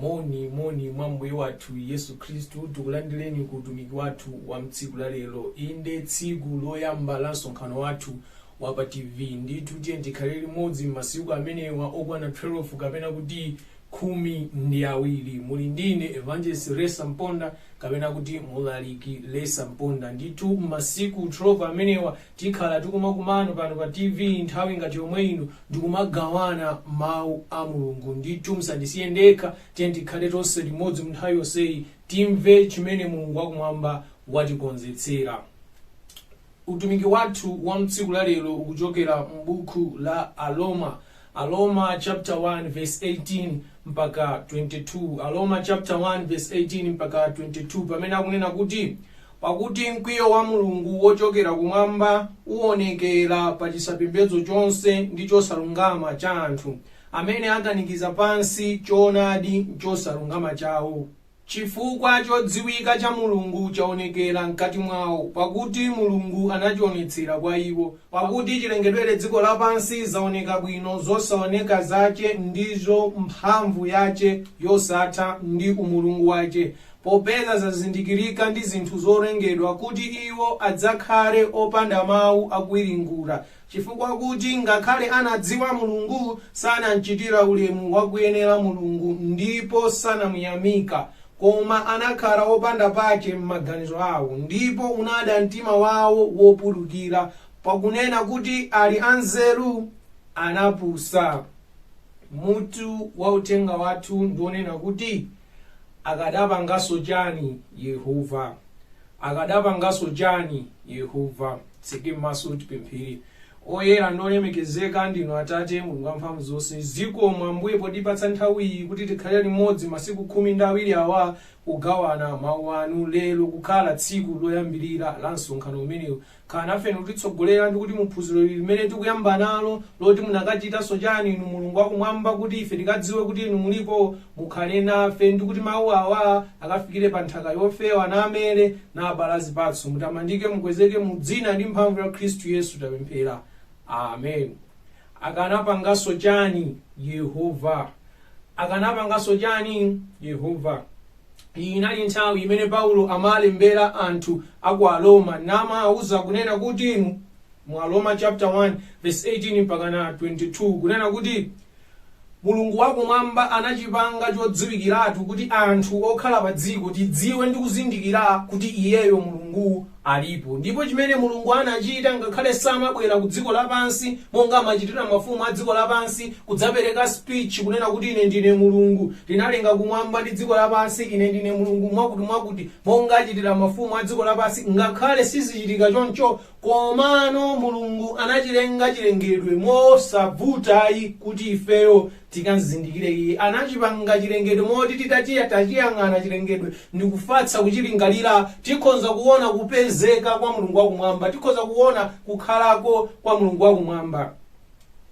moni moni mwa mbuye wathu yesu khristu tikulandireni ku utumiki wathu wa mtsiku la lero inde tsiku loyamba la msonkhano wathu wa pa tv ndithu tiyeni tikhale limodzi m'masiku amenewa okwana 12 kapena kuti khumi ndi awiri. Muli ndi ine, Evangelist Lesa Mponda, kapena kuti Mlaliki Lesa Mponda. Ndithu, m'masiku 12 amenewa, tikhala tikumakumana pano pa TV nthawi ngati yomwe ino, ndikumagawana Mau a Mulungu. Ndithu, musandisiye ndekha, tiyeni tikhale tonse limodzi munthawi yonseyi, timve chimene Mulungu wa Kumwamba watikonzetsera. Utumiki wathu wa mtsiku la lero ukuchokera m'bukhu la Aroma. Aroma chapter 1 verse 18 mpaka 22. Aroma chapter 1 verse 18 mpaka 22 pamene akunena kuti pakuti mkwiyo wa Mulungu wochokera kumwamba uonekera pa chisapembedzo chonse ndi chosalungama cha anthu amene akanikiza pansi choonadi m'chosalungama chawo. Chifukwa chodziwika cha Mulungu chaonekera mkati mwawo, pakuti Mulungu anachionetsera kwa iwo. Pakuti chilengedwere dziko lapansi zaoneka bwino zosaoneka zache, ndizo mphamvu yache yosatha, ndi umulungu wache, popeza zazindikirika ndi zinthu zolengedwa, kuti iwo adzakhale opanda mau akuwiringula. Chifukwa kuti ngakhale anadziwa Mulungu, sanamchitira ulemu wakuyenera Mulungu, ndipo sanamuyamika, koma anakhala opanda pache m'maganizo awo, ndipo unada mtima wawo wopulukira, pakunena kuti ali anzeru, anapusa. Mutu wa uthenga wathu ndi wonena kuti Akadapanganso chani Yehova? Akadapanganso chani Yehova? Titseke maso tipemphere. Oyera ndi olemekezeka ndinu Atate, Mulungu wa mphamvu zonse. Zikomo, Ambuye, potipatsa nthawi iyi kuti tikhale limodzi masiku khumi ndi awiri awa kugawana Mau anu. Lero kukhala tsiku loyambirira la msonkhano umenewu. Khalani nafe ndikutitsogolera ndikuti muphunziro ili limene tikuyamba nalo loti munakachitanso chani inu mulungu wakumwamba kuti ife tikadziwe kuti inu mulipo mukhale nafe ndikuti mau awa akafikire pa nthaka yofewa namere naabala zipatso mutamandike mukwezeke mu dzina ndi mphamvu ya khristu yesu tapemphera amen akanapanganso chani yehova akanapanganso chani yehova Iyi inali nthawi imene Paulo amalembera anthu a ku Aroma namawauza kunena kuti mu, mu Aroma chapter 1 verse 18 mpakana 22 kunena kuti Mulungu wakumwamba anachipanga chodziwikiratu kuti anthu okhala pa dziko tidziwe ndi kuzindikira kuti iyeyo Mulungu alipo. Ndipo chimene Mulungu anachita, ngakhale samabwera ku dziko lapansi monga amachitira mafumu a dziko lapansi, kudzapereka speech, kunena kuti, Ine ndine Mulungu, ndinalenga kumwamba ndi dziko lapansi, Ine ndine Mulungu mwakuti-n-mwakuti, monga achitira mafumu a dziko lapansi, ngakhale sizichitika choncho, komano Mulungu anachilenga chilengedwe mosavuta ayi kuti ifeyo tikamzindikire iye. Anachipanga chilengedwe moti titati tachiyang'ana chilengedwe ndi kufatsa kuchilingalira, tikhonza kuona kupezeka kwa Mulungu wakumwamba, tikhonza kuona kukhalako kwa Mulungu wakumwamba.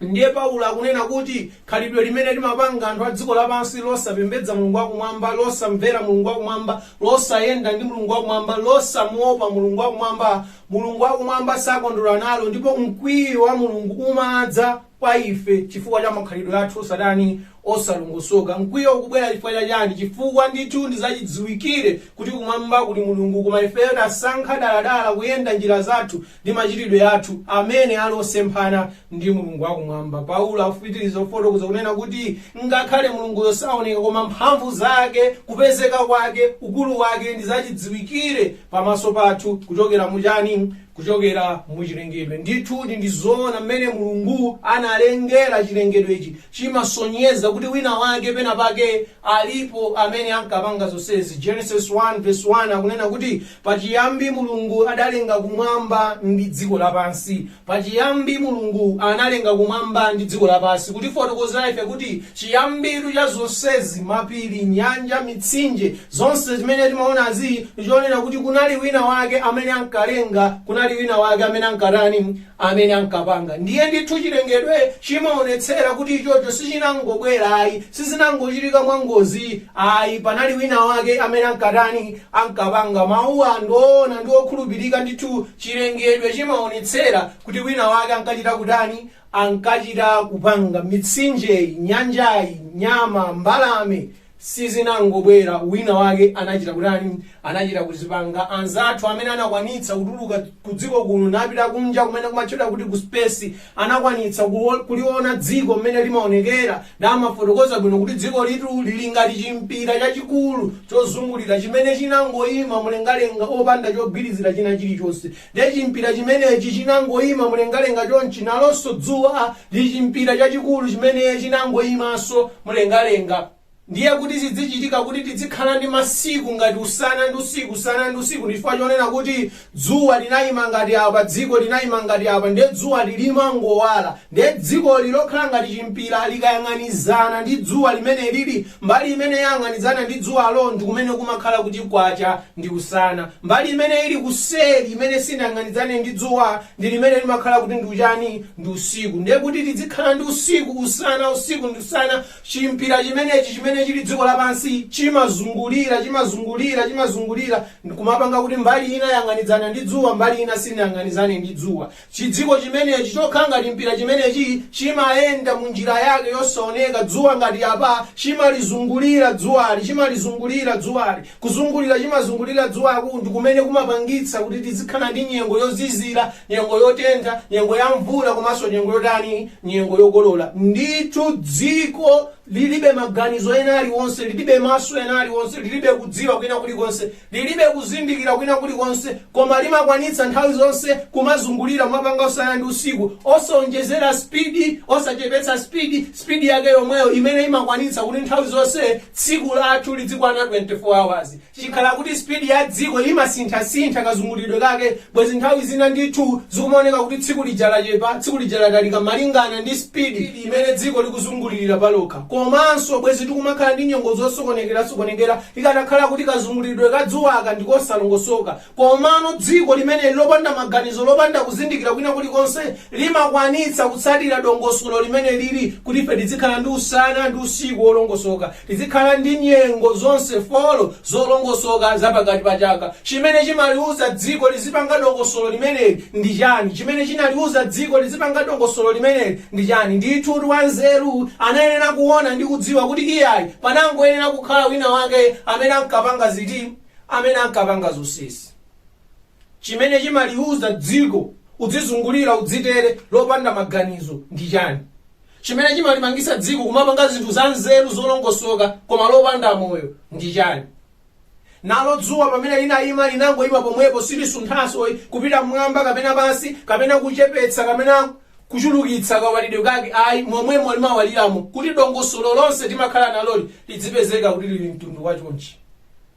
Ndiye Paulo akunena kuti khalidwe limene limapanga anthu a dziko lapansi losapembedza Mulungu wakumwamba, losamvera Mulungu wakumwamba, losayenda ndi Mulungu wakumwamba, losamuopa Mulungu wakumwamba, Mulungu wakumwamba sakondwera nalo ndipo mkwiyo wa Mulungu umadza. kwa ife chifukwa cha makhalidwe athu osatani osalongosoka. Mkwiyo ukubwera chifukwa cha chani? Chifukwa ndithu ndi zachidziwikire kuti kumwamba kuli Mulungu koma ifeyo tasankha daladala kuyenda njira zathu ndi machitidwe athu amene ali osemphana ndi Mulungu wa kumwamba. Paulo akupitiriza kufotokoza kunena kuti ngakhale Mulunguyo saoneka koma mphamvu zake, kupezeka kwake, ukulu wake ndi zachidziwikire pamaso pathu kuchokera mu chani? kuchokera mu chilengedwe. Ndithudi ndi zoona, mmene Mulungu analengera chilengedwechi chimasonyeza kuti winawake penapake alipo amene ankapanga zonsezi. Genesis 1 verse 1 akunena kuti pachiyambi Mulungu adalenga kumwamba ndi dziko lapansi. Pachiyambi Mulungu analenga kumwamba ndi dziko lapansi kutifotokozera ife kuti chiyambitu cha zonsezi, mapiri, nyanja, mitsinje, Zonse zimene timaonazi ndi chonena kuti kunali wina wake amene ankalenga, kunali wina wake amene ankatani, amene ankapanga. Ndiye ndithu chilengedwe chimaonetsera kuti ichocho sichinangobwera ayi, sizinangochitika mwa ngozi ayi, panali wina wake amene ankatani, ankapanga. Mauwa ndi oona ndi okhulupirika ndithu, chilengedwe chimaonetsera kuti wina wake ankachita kutani, ankachita kupanga. Mitsinjeyi, nyanjayi, nyama, mbalame, sizinangobwera wina wake anachita kutani anachita kuzipanga anzathu amene anakwanitsa kutuluka ku dziko kuno napita kunja kumene kumatchedwa kuti ku space anakwanitsa kuwo- kuliona dziko mmene limaonekera namafotokoza bwino kuti dzikolitu lili ngati chimpira chachikulu chozungulira chimene chinangoyima mlengalenga opanda chogwirizira china chilichonse Ndiye chimpira chimenechi chinangoima mlengalenga chonchi, nalonso dzuwa ndi chimpira chachikulu chimene chinangoimanso mlengalenga. Ndiye kuti zidzichitika kuti tizikhala ndi masiku ngati usana ndi usiku, usana ndi usiku, ndi chifukwa chonena kuti dzuwa linaima ngati apa, dziko linaima ngati apa, ndiye dzuwali limangowala. Ndiye dzikoli lokhala ngati chimpira likayang'anizana ndi dzuwa limenelili, Mbali imene yang'anizana ndi dzuwalo ndi kumene kumakhala kuti kwacha ndi usana. Mbali imene ili kuseri imene sinayang'anizane ndi dzuwa ndi limene limakhala kuti ndi uchani? Ndi usiku. Ndiye kuti tizikhala ndi usiku, usana, usiku ndi usana. Chimpira chimenechi chimene chili dziko lapansi chimazungulira, chimazungulira, chimazungulira kumapanga kuti mbali ina yang'anizana ndi dzuwa mbali ina sinayang'anizane ndi dzuwa. Chidziko chimenechi, chokhala ngati mpira chimenechi, chimayenda mu njira yake yosaoneka, dzuwa ngati apa, chimalizungulira dzuwali, chimalizungulira dzuwali, kuzungulira, chimazungulira dzuwaku, ndi kumene kumapangitsa kuti tizikhala ndi nyengo yozizira, nyengo yotentha, nyengo ya mvula, komanso nyengo yotani, nyengo yokolola. Ndithu dziko lilibe maganizo ena aliwonse, lilibe maso ena aliwonse, lilibe kudziwa kwina kulikonse. Lilibe kuzindikira kwina kulikonse, koma limakwanitsa nthawi zonse kumazungulira kumapanga usana ndi usiku, osaonjezera spidi, osachepetsa spidi, spidi yake yomweyo imene imakwanitsa kuti nthawi zonse tsiku lathu lidzikwana 24 hours. Chikhala kuti spidi ya dziko imasinthasintha kazungulidwe kake, bwezi nthawi zina ndithu zikumaoneka kuti tsiku lija lachepa, tsiku lija latalika malingana ndi spidi imene dziko likuzungulirira palokha. Komanso bwezi tikumakhala ndi nyengo zosokonekerasokonekera Ikanakhala kuti kazungulidwe ka dzuwaka ndi kosalongosoka, komano dziko limeneli lopanda maganizo, lopanda kuzindikira kwina kulikonse, limakwanitsa kutsatira dongosolo limene lili kuti ife tizikhala ndi usana ndi usiku wolongosoka, tizikhala ndi nyengo zonse folo zolongosoka za pakati pa chaka. Chimene chimaliuza dziko lizipanga dongosolo limeneli ndi chani? Chimene chinaliuza dziko lizipanga dongosolo limeneli ndi chani? Ndithu wanzeru anayenera kuona ndi kudziwa kuti iyayi, panangoyenera kukhala wina wake amene ankapanga ziti? amene ankapanga zonsezi. Chimene chimaliuza dziko udzizungulira udzitere lopanda maganizo ndi chani? Chimene chimalipangitsa dziko kumapanga zinthu zanzeru zolongosoka koma lopanda moyo ndi chani? nalo dzuwa pamene linayima linangoyima pomwepo silisunthanso kupita mmwamba kapena pansi kapena kuchepetsa kapena kuchulukitsa kawalidwe kake ayi momwemo limawaliramo kuti dongosolo lonse timakhala naloli lidzipezeka kuti lili mtundu wachonchi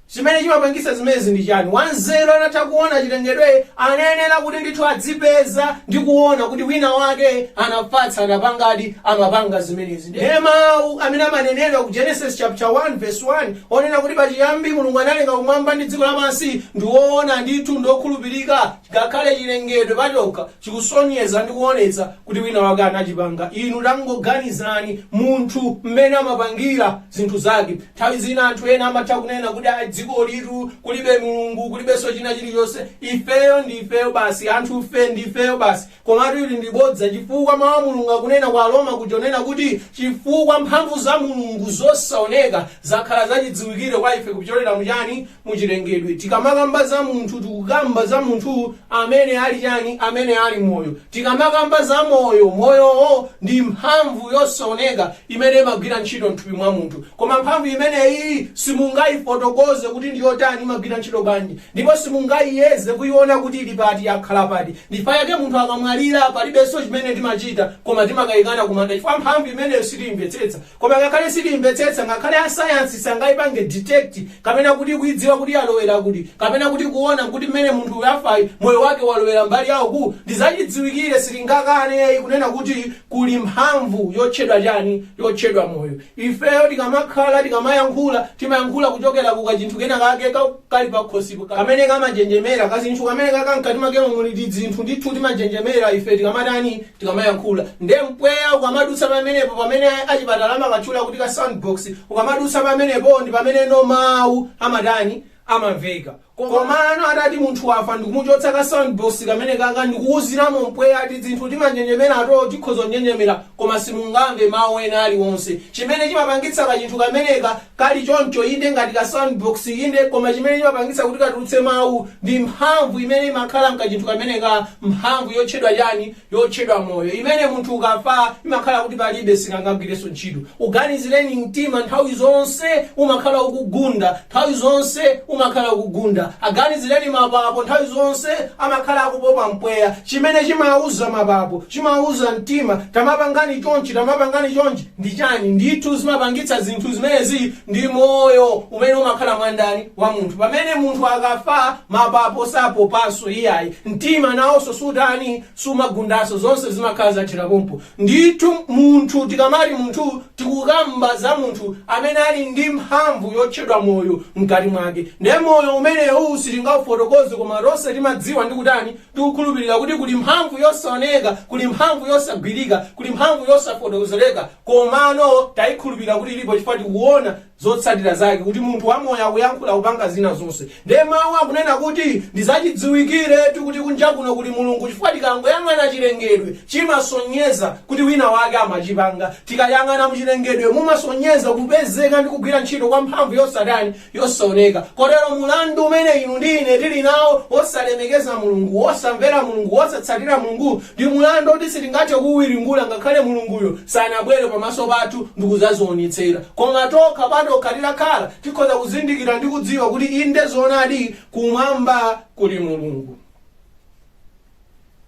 chimene chimapangitsa zimenezi ndi chani wanzeru anatha kuona chilengedwe anayenera kuti ndithu adzipeza ndi kuona kuti wina wake anafatsa anapangadi amapanga zimenezi Ndiye mawu amene amanenedwa ku Genesis chaputala 1 vesi 1, onena kuti pachiyambi Mulungu analenga kumwamba ndi dziko lapansi, ndi woona ndithu ndi wokhulupirika. Ngakhale chilengedwe pachokha chikusonyeza ndi kuonetsa kuti winawake anachipanga. Inu tangoganizani munthu mmene amapangira zinthu zake. Nthawi zina anthu ena amatha kunena kuti, Aa, dzikolitu kulibe Mulungu, kulibenso china chilichonse. Ifeyo ndi ifeyo basi, anthufe ndi ifeyo basi. Komatu ili ndi bodza, chifukwa Mau a Mulungu akunena kwa Aroma kuja onena kuti, Chifukwa mphamvu za Mulungu zosaoneka zakhala zachidziwikire kwa ife kupyolera mu chani? Mu chilengedwe. Tikamakamba za munthu, tikukamba za munthu amene ali chani? Amene ali moyo. Tikamakamba za moyo, moyowo ndi mphamvu yosaoneka imene imagwira ntchito mthupi mwa munthu. Koma mphamvu imeneyi simungayifotokoze kuti ndi yotani, imagwira ntchito bwanji, ndipo simungaiyeze kuiona kuti ili pati, yakhala pati. Ndifa yake munthu akamwalira palibenso chimene timachita koma timakayikana kumanda chifukwa mphamvu imeneyo sitiyimvetsetsa. Koma ngakhale sitiyimvetsetsa, ngakhale a science sangayipange detect kapena kuti kuidziwa kuti yalowera kuti kapena kuti kuwona kuti mmene munthu uyu wafayu moyo wake walowera mbali ya uku ndizachidziwikire sitingakane kunena kuti kuli mphamvu yotchedwa chani yotchedwa moyo. Ifeyo tikamakhala tikamayankhula timayankhula kuchokera ku kachinthu kena kake ka. kali pakhosipo kamene kamanjenjemera kachinthu kameneka ka mkati makemo muli tidzinthu ndithu timanjenjemera ife tikamatani tikamayankhula nde mpweya ukamadutsa pamenepo pamene achipatala amakatchula kuti ka soundbox ukamadutsa pamenepo ndi pamene no mawu amatani amamveka komano atati munthu wafa ndikumuchotsa ka soundbox kameneka ka ndikuwuziramo mpweya tidzinthu timanjenjemerato tikhoza kunjenjemera Koma simungamve mawu ena aliwonse. Chimene chimapangitsa kachinthu kameneka kali choncho, inde, ngati ka soundbox, inde, koma chimene chimapangitsa kuti katulutse mawu ndi mphamvu imene imakhala mkachinthu kameneka, mphamvu yotchedwa chani? yotchedwa moyo, imene munthu ukafa imakhala kuti palibe, sikangagwirenso ntchito. Uganizireni, mtima nthawi zonse umakhala ukugunda, nthawi zonse umakhala ukugunda. Aganizireni mapapo, nthawi zonse amakhala akupopa mpweya. Chimene chimawuza mapapo chimauza mtima, Tamapangani chonchi, tamapangani chonchi. Ndi chani? Ndithu zimapangitsa zinthu zimenezi ndi moyo umene umakhala mwa ndani? Mwa munthu. Pamene munthu akafa, mapapo sapopanso iyayi. Mtima naonso sutani? Sumagundanso. Zonse zimakhala zathera pompo. Ndithu munthu tikamati munthu tikukamba za munthu amene ali ndi mphamvu yotchedwa moyo mkati mwake. Nde moyo umenewu sitingaufotokoze koma tonse timadziwa ndi kutani? Tikukhulupilira kuti kuli mphamvu yosaoneka, kuli mphamvu yosagwirika, kuli mphamvu yosafotokozereka, komano taikhulupilira kuti ilipo chifukwa tikuona zotsatira zake kuti munthu wamoyo akuyankhula, kupanga zina zonse. Nde mawu akunena kuti ndizachidziwikiretu kuti kunja kuno kuli Mulungu chifukwa tikangoyang'ana chilengedwe chimasonyeza kuti wina wake amachipanga. Tikayang'ana muchilengedwe mumasonyeza kupezeka ndi kugwira ntchito kwa mphamvu yosatani? yosaoneka. Kotero mulandu umene inu ndi ine tili nawo wosalemekeza Mulungu, wosamvera Mulungu, wosatsatira Mulungu, ndi mulandu woti sitingathe kuwiringula ngakhale Mulunguyo sanabwere pamaso pathu ndi kudzazionetsera. Koma tokha patokha tikakhala, tikhoza kuzindikira ndi kudziwa kuti inde zoonadi, kumwamba kuli Mulungu.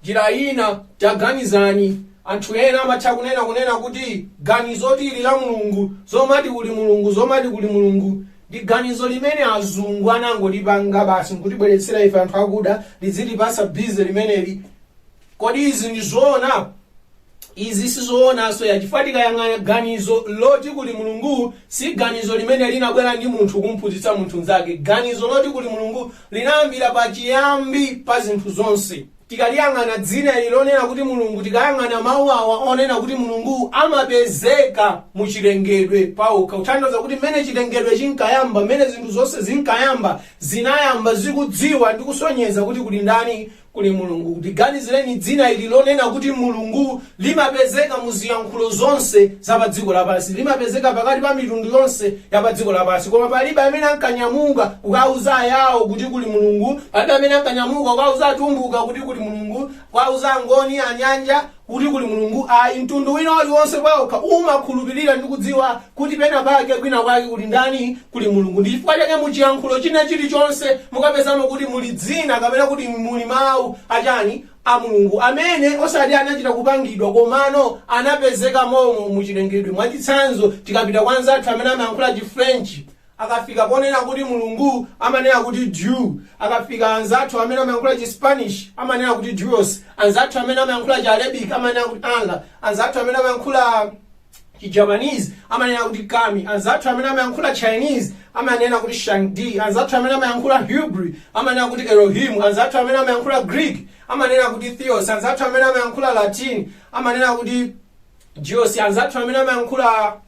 Njira ina, taganizani, anthu ena amatha kunena kunena kuti ganizoti ili la Mulungu, zomati kuli Mulungu, zomati kuli Mulungu, ndi ganizo limene azungu anangolipanga basi nkutibweretsera ife anthu akuda, lizitipatsa busy limeneli. Kodi izi ndi zoona? Izi sizoonanso ayi chifukwa tikayang'ana ganizo loti kuli Mulungu si ganizo limene linabwera ndi munthu kumphunzitsa munthu nzake. Ganizo loti kuli Mulungu linayambira pa chiyambi pa zinthu zonse. Tikaliyang'ana dzina ili lonena kuti Mulungu tikayang'ana mau awa onena kuti Mulungu amapezeka mu chilengedwe pawokha kutanthauza kuti mmene chilengedwe chinkayamba mmene zinthu zonse zinkayamba zinayamba zikudziwa ndi kusonyeza kuti kuli ndani Kuli Mulungu. Liganizireni dzina ili lonena kuti Mulungu. Limapezeka mu ziyankhulo zonse za pa dziko lapansi. Limapezeka pakati pa mitundu yonse ya pa dziko lapansi. Koma palibe amene ankanyamuka kukauza Ayao kuti kuli Mulungu. Palibe amene ankanyamuka kukauza Atumbuka kuti kuli Mulungu, kukauza Angoni, Anyanja, kuti kuli Mulungu ayi. Mtundu wina uliwonse pawokha umakhulupirira ndi kudziwa kuti penapake, kwinakwake, kuli ndani? Kuli Mulungu. Ndi chifukwa chake mu chiyankhulo china chilichonse mukapezamo kuti muli dzina kapena kuti muli mawu a chani? a Mulungu, amene osati anachita kupangidwa komano anapezeka mommo mu chilengedwe. Mwachitsanzo, tikapita kwa anzathu amene amayankhula chi French, Akafika ponena kuti Mulungu, amanena kuti Dieu. Akafika anzathu amene amayankhula chi Spanish, amanena kuti Dios. Anzathu amene amayankhula chi Arabic, amanena kuti Allah. Anzathu amene amayankhula chi Japanese, amanena kuti Kami. Anzathu amene amayankhula Chinese, amanena kuti Shang-Di. Anzathu amene amayankhula Hebrew, amanena kuti Elohim. Anzathu amene amayankhula Greek, amanena kuti Theos. Anzathu amene amayankhula Latin, amanena kuti Deus. Anzathu amene amayankhula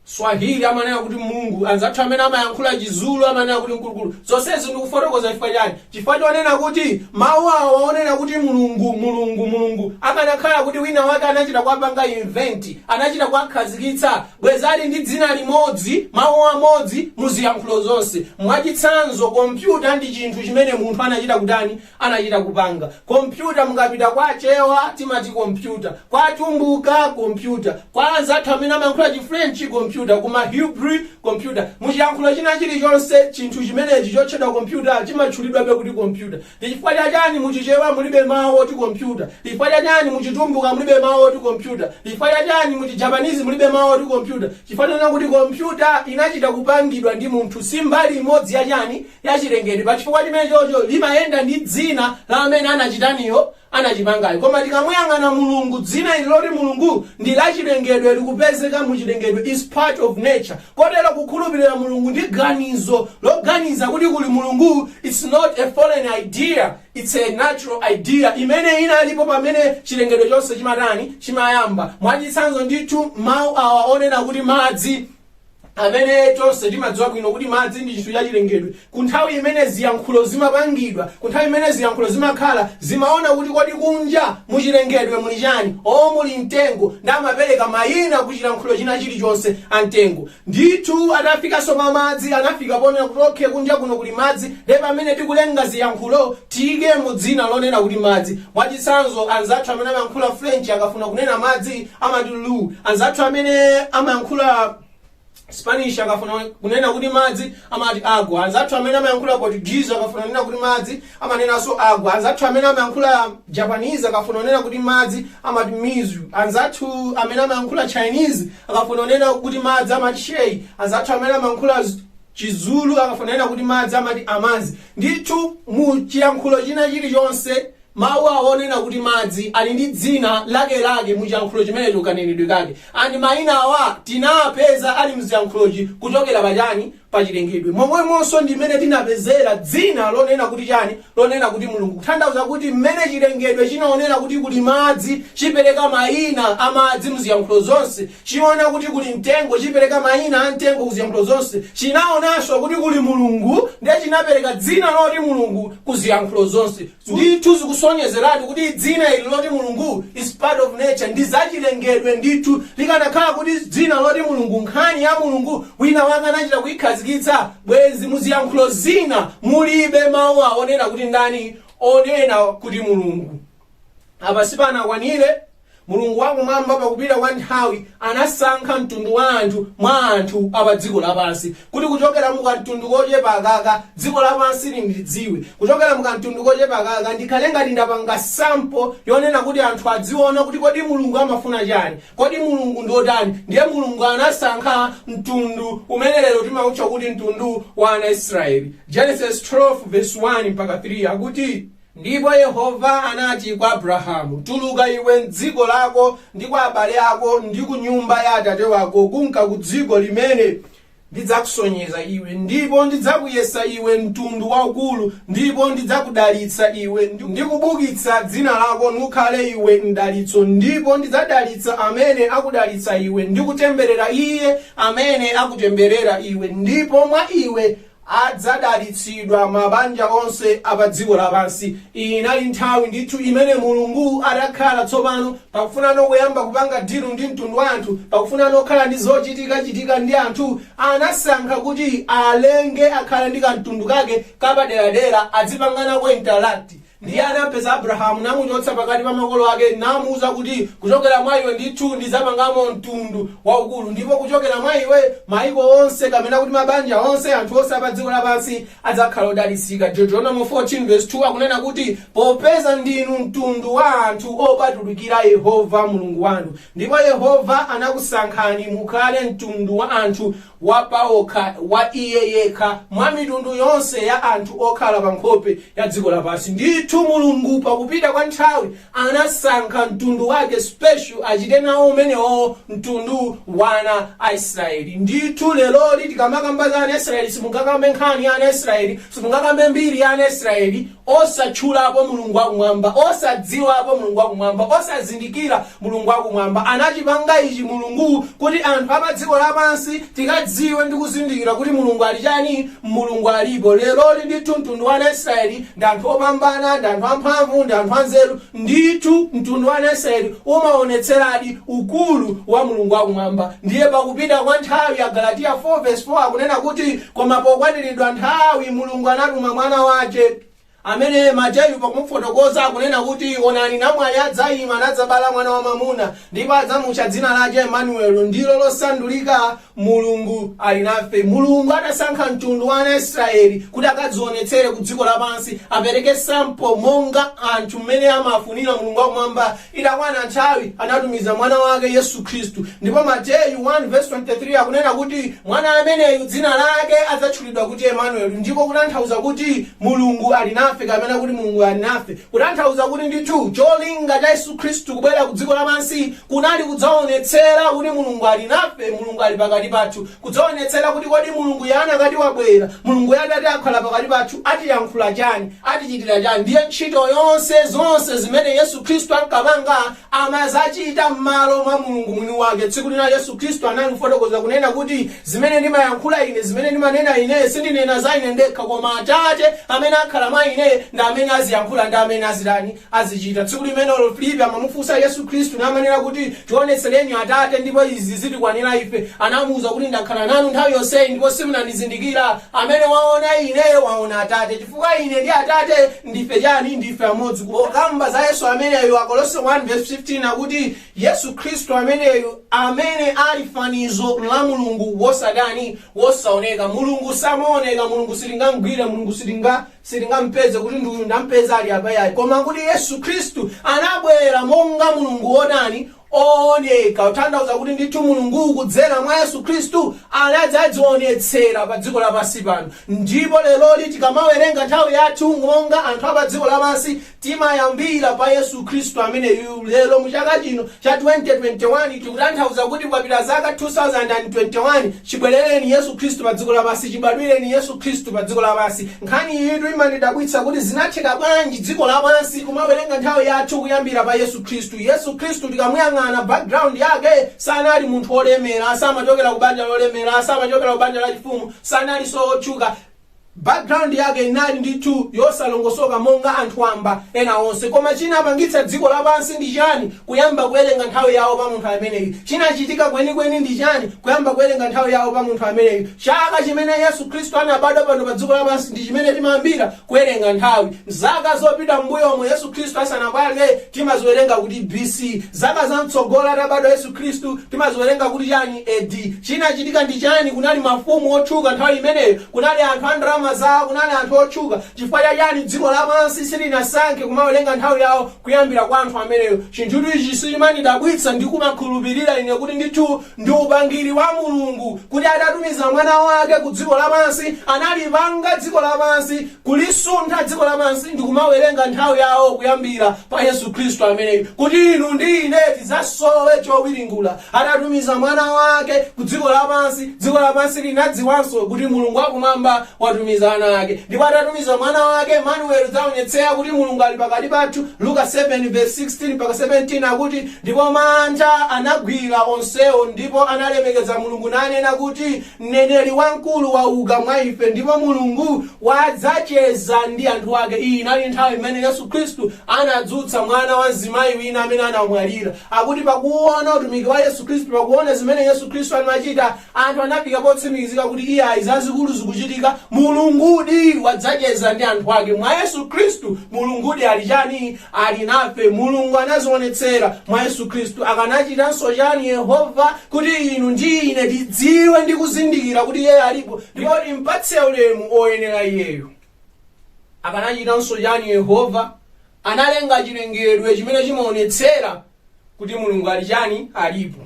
swahili amanena kuti mulungu anzathu amene amayankhula chizulu amanena kuti mkulukulu zonsezi ndikufotokoza chifukwa chani chifukwa chonena kuti mawu awa onena kuti mulungu mulungu mulungu akanakhala kuti wina wake anachita kuwapanga invent anachita kuwakhazikitsa bwezali ndi dzina limodzi mawu amodzi muziyankhulo zonse mwachitsanzo kompyuta ndi chinthu chimene munthu anachita kutani anachita kupanga kompyuta. Mukapita kwa achewa timati kompyuta, kwa atumbuka kompyuta, kwa anzathu amene amayankhula chi french kompyuta, ku ma Hebrew kompyuta. Muchiyankhulo china chilichonse chinthu chimenechi chotchedwa kompyuta chimatchulidwabe kuti kompyuta. Chifukwa chani mu chichewa mulibe mawu oti kompyuta? Chifukwa chani mu chitumbuka mulibe mawu oti kompyuta? Chifukwa chani mu chi Japanese mulibe mawu oti kompyuta? Chifukwa chonena kuti kompyuta inachita kupangidwa ndi munthu si mbali imodzi ya chani? ya chilengedwe pa chifukwa chimenecho limayenda ndi dzina la amene anachitaniyo anachipangayo koma tikamuyang'ana mulungu dzina ili loti mulungu ndi la chilengedwe likupezeka mu chilengedwe is part of nature kotero kukhulupirira mulungu ndi ganizo loganiza kuti kuli mulungu it's not a foreign idea it's a natural idea imene inalipo pamene chilengedwe chonse chimatani chimayamba mwachitsanzo ndithu mawu awa onena kuti madzi amene tonse timadziwa bwino kuti madzi ndi chinthu chachilengedwe ku nthawi imene ziyankhulo zimapangidwa ku nthawi imene ziyankhulo zimakhala zimaona kuti kodi kunja muchilengedwe muli chani o muli mtengo ndiye amapereka mayina ku chilankhulo china chilichonse a mtengo ndithu atafikanso pa madzi anafika ponena kuti okhe kunja kuno kuli madzi ndiye pamene tikulenga ziyankhulo tiyikemo dzina lonena kuti madzi mwachitsanzo anzathu amene amayankhula french akafuna kunena madzi amati l'eau, Anzathu amene amayankhula Spanish akafuna kunena kuti madzi amati agua. Anzathu amene amayankhula Portuguese akafuna kunena kuti madzi amanenanso agua. Anzathu amene amayankhula Japanese akafuna kunena kuti madzi amati mizu. Anzathu amene amayankhula Chinese akafuna kunena kuti madzi amati shui. Anzathu amene amayankhula Chizulu akafuna kunena kuti madzi amati amanzi. Ndithu mu chiyankhulo china chilichonse Mawu awa onena kuti madzi ali ndi dzina lakelake mu chiyankhulo chimenecho kanenedwe kake. And maina awa tinawapeza ali mziyankhulochi kuchokera pa chani? Pa chilengedwe. Momwemonso ndi mmene tinapezera dzina lonena kuti chani? Lonena kuti Mulungu. Kutanthauza kuti mmene chilengedwe chinaonera kuti kuli madzi chipereka maina a madzi mziyankhulo zonse. Chiona kuti kuli mtengo, chipereka maina a mtengo ku ziyankhulo zonse. Chinaonanso kuti kuli Mulungu, ndiye chinapereka dzina loti Mulungu ku ziyankhulo zonse. Ndithu zikusonyezeratu kuti dzina ili loti Mulungu is part of nature, ndi zachilengedwe ndithu. Likanakhala kuti dzina loti Mulungu, nkhani ya Mulungu, wina wake anachita kuikhazikitsa, bwenzi mu ziyankhulo zina mulibe mau awo onena kuti ndani onena kuti Mulungu. Apa sipanakwanire. Mulungu wa Kumwamba, pa kupita kwa nthawi, anasankha mtundu wa anthu mwa anthu a pa dziko lapansi, kuti kuchokera mu kamtundu kochepa aka, dziko lapansi lindidziwe. Kuchokera mu kamtundu kochepa aka, ndikhale ngati ndapanga sample yonena kuti anthu adziona kuti kodi Mulungu amafuna chani, kodi Mulungu ndi otani. Ndiye Mulungu anasankha mtundu umene lero timautcha kuti mtundu wa ana a Israeli. Genesis 12 vs. 1-3 akuti. Ndipo Yehova anati kwa Abrahamu, Tuluka iwe m'dziko lako, ndi kwa abale ako, ndi ku nyumba ya atate wako, kunka ku dziko limene ndidzakusonyeza iwe, ndipo ndidzakuyesa iwe mtundu waukulu, ndipo ndidzakudalitsa iwe, ndi kubukitsa dzina lako, nukhale iwe mdalitso, ndipo ndidzadalitsa amene akudalitsa iwe, ndi kutemberera iye amene akutemberera iwe, ndipo mwa iwe Adzadalitsidwa mabanja onse a pa dziko lapansi. Iyi inali nthawi ndithu imene Mulungu adakhala tsopano pakufunano kuyamba kupanga deal ndi mtundu wa anthu, pakufunano kukhala ndi zochitika chitika ndi anthu, anasankha kuti alenge akhale ndi kamtundu kake kapaderadera, adzipanga nako interact. Ndiye anampeza Abrahamu, namuchotsa pakati pa makolo ake, namuuza kuti, Kuchokera mwa iwe ndithu ndidzapangamo mtundu waukulu, ndipo kuchokera mwa iwe mayiko onse, kapena kuti mabanja onse, anthu onse a padziko lapansi, adzakhala odalitsika. Deuteronomo 14 vesi 2 akunena kuti, Popeza ndinu mtundu wa anthu opatulikira Yehova Mulungu wanu, ndipo Yehova anakusankhani mukhale mtundu wa anthu wa pawokha wa iye yekha mwa mitundu yonse ya anthu okhala pa nkhope ya dziko lapansi. Ndithu Mulungu pakupita kwa nthawi anasankha mtundu wake special achite nawo umenewo mtundu wa ana a Israeli. Ndithu leroli tikamakamba za ana Israeli simungakambe nkhani ya ana Israeli, simungakambe mbiri ya ana Israeli, osatchulapo Mulungu wa Kumwamba, osadziwapo Mulungu wa Kumwamba, osazindikira Mulungu wa Kumwamba. Anachipanga ichi Mulungu kuti anthu a padziko lapansi tikadziwe ndi kuzindikira kuti Mulungu ali chani, Mulungu alipo. Leroli ndithu mtundu wa ana Israeli ndi anthu opambana, ndi anthu amphamvu, ndi anthu anzeru. Ndithu, mtundu wa ana Israeli umaonetseradi ukulu wa Mulungu wa Kumwamba. Ndiye pakupita kwa nthawi, Agalatiya 4 vesi 4 akunena kuti, Koma pokwaniridwa nthawi, Mulungu anatuma Mwana wace, amene Mateyu pakumufotokoza akunena kuti, Onani, namwali adzaima, nadzabala mwana wamwamuna, ndipo adzamucha dzina lace Emanueli, ndilo losandulika, Mulungu ali nafe. Mulungu adasankha mtundu wa ana a Israyeli kuti akadzionetsere ku dziko lapansi, apereke sample monga anthu mmene amafunira Mulungu wa Kumwamba, itakwana nthawi anatumiza Mwana Wake, Yesu Kristu. Ndipo Mateyu 1 vs 23 akunena kuti Mwana ameneyu dzina Lake adzatchulidwa kuti Emmanuel, ndiko kutanthauza kuti Mulungu ali nafe kapena kuti Mulungu ali nafe. Kutanthauza kuti ndithu cholinga cha Yesu Khristu kubwera ku dziko lapansi kunali kudzaonetsera kuti Mulungu ali nafe, Mulungu ali pakati pathu, kudzaonetsera kuti kodi Mulunguyo anakati wabwera, Mulunguyo atati akhala pakati pathu atiyankhula chani, atichitira chani, ndiye ntchito yonse, zonse zimene Yesu Khristu ankapanga amazichita mmalo mwa Mulungu Mwiniwake. Tsiku lina Yesu Kristu analifotokoza, kunena kuti, Zimene ndimayankhula Ine, zimene ndimanena Ine, sindinena za Ine ndekha, koma Atate amene akhala mwa Ine ndi amene aziyankhula ndi amene azitani? azichita. Tsiku limenelo Filipi amamufunsa Yesu Kristu namanena kuti, Tionetsereni Atate, ndipo izi zitikwanira ife. Anamuuza kuti, Ndakhala nanu nthawi yonseyi, ndipo simunandizindikira. Amene waona Ine waona Atate. Chifukwa Ine ndi Atate Ndife chani? Ndife amodzi. Kukamba za Yesu ameneyu, Akolose 1 vesi 15 akuti, Yesu Khristu ameneyu, amene ali fanizo la Mulungu wosatani, wosaoneka. Mulungu samaoneka, Mulungu sitingamgwire, Mulungu sitinga sitingampeze kuti ndi uyu ndampeza ali apa yayi. Koma kuti Yesu Khristu anabwera monga Mulungu wotani, owoneka, kutanthauza kuti ndithu Mulungu kudzera mwa Yesu Khristu anadzadzionetsera pa dziko lapansi pano. Ndipo leroli tikamawerenga nthawi yathu monga anthu a pa dziko lapansi timayambira pa Yesu Khristu ameneyuyu. Lero mu chaka chino cha 2021 tikutanthauza kuti kwapita zaka 2021 chibwerereni Yesu Khristu pa dziko lapansi, chibadwireni Yesu Khristu pa dziko lapansi. Nkhani iyitu imandidabwitsa kuti zinatheka bwanji dziko lapansi kumawerenga nthawi yathu kuyambira pa Yesu. Khristu. Yesu Khristu tikamuyang'ana background yake sanali munthu olemera, samachokera kubanja lolemera, samachokera kubanja lachifumu, sanalinso otchuka. Background yake inali ndithu yosalongosoka monga anthu wamba ena onse. Koma chinapangitsa dziko lapansi ndi chani kuyamba kuwerenga nthawi yawo pa munthu ameneyu? Chinachitika kwenikweni ndi chani kuyamba kuwerenga nthawi yawo pa munthu ameneyu? Chaka chimene Yesu Khristu anabadwa pano pa dziko lapansi ndi chimene timayambira Kuwerenga nthawi. Zaka zopita m'mbuyomo Yesu Khristu asanabadwe, timaziwerenga kuti B.C. Zaka za mtsogolo atabadwa Yesu Khristu, timaziwerenga kuti chani? A.D. Chinachitika ndi chani? Kunali mafumu otchuka nthawi imeneyo. Kunali anthu a ndalama zawo. Kunali anthu otchuka. Chifukwa cha chani? Dziko lapansi silinasankhe kumawerenga nthawi yawo kuyambira kwa anthu ameneyo. Chinthutu ichi chimandidabwitsa. Ndi kumakhulupirira ine kuti ndithu Ndi upangiri wa Mulungu kuti atatumiza Mwana Wake ku dziko lapansi, analipanga dziko lapansi, kulisuntha dziko lapansi, ndi kumawerenga nthawi yawo kuyambira pa Yesu Khristu ameneyu, kuti inu ndi ine tidzasowe chowiringula. Atatumiza Mwana Wake ku dziko lapansi, dziko lapansi linadziwanso kuti Mulungu wa Kumwamba watumiza ana Ake. Ndipo atatumiza Mwana Wake, Emmanuel, kudzaonetsera kuti Mulungu ali pakati pathu, Luka 7 vs. 16-17 akuti, Ndipo mantha anagwira onsewo, ndipo analemekeza Mulungu, nanena kuti, Mneneri wamkulu wauka mwa ife, ndipo Mulungu wadzacheza ndi anthu ake. Iyi inali nthawi imene Yesu Khristu anadzutsa mwana wa mzimayi wina amene anamwalira. Akuti pakuona utumiki wa Yesu Khristu, pakuona zimene Yesu Khristu anachita, anthu anafika potsimikizika kuti iyayi, zazikulu zikuchitika, Mulungudi wadzacheza ndi anthu ake. Mwa Yesu Khristu, Mulungudi ali chani? Ali nafe. Mulungu anadziwonetsera mwa Yesu Khristu. Akanachitanso chani Yehova kuti inu ndi ine tidziwe ndi kuzindikira kuti Iyeyo alipo ndipo timpatse ulemu oyenera Iyeyo? Akanachitanso chani Yehova? Analenga chilengedwe chimene chimawonetsera kuti mulungu ali chani alipo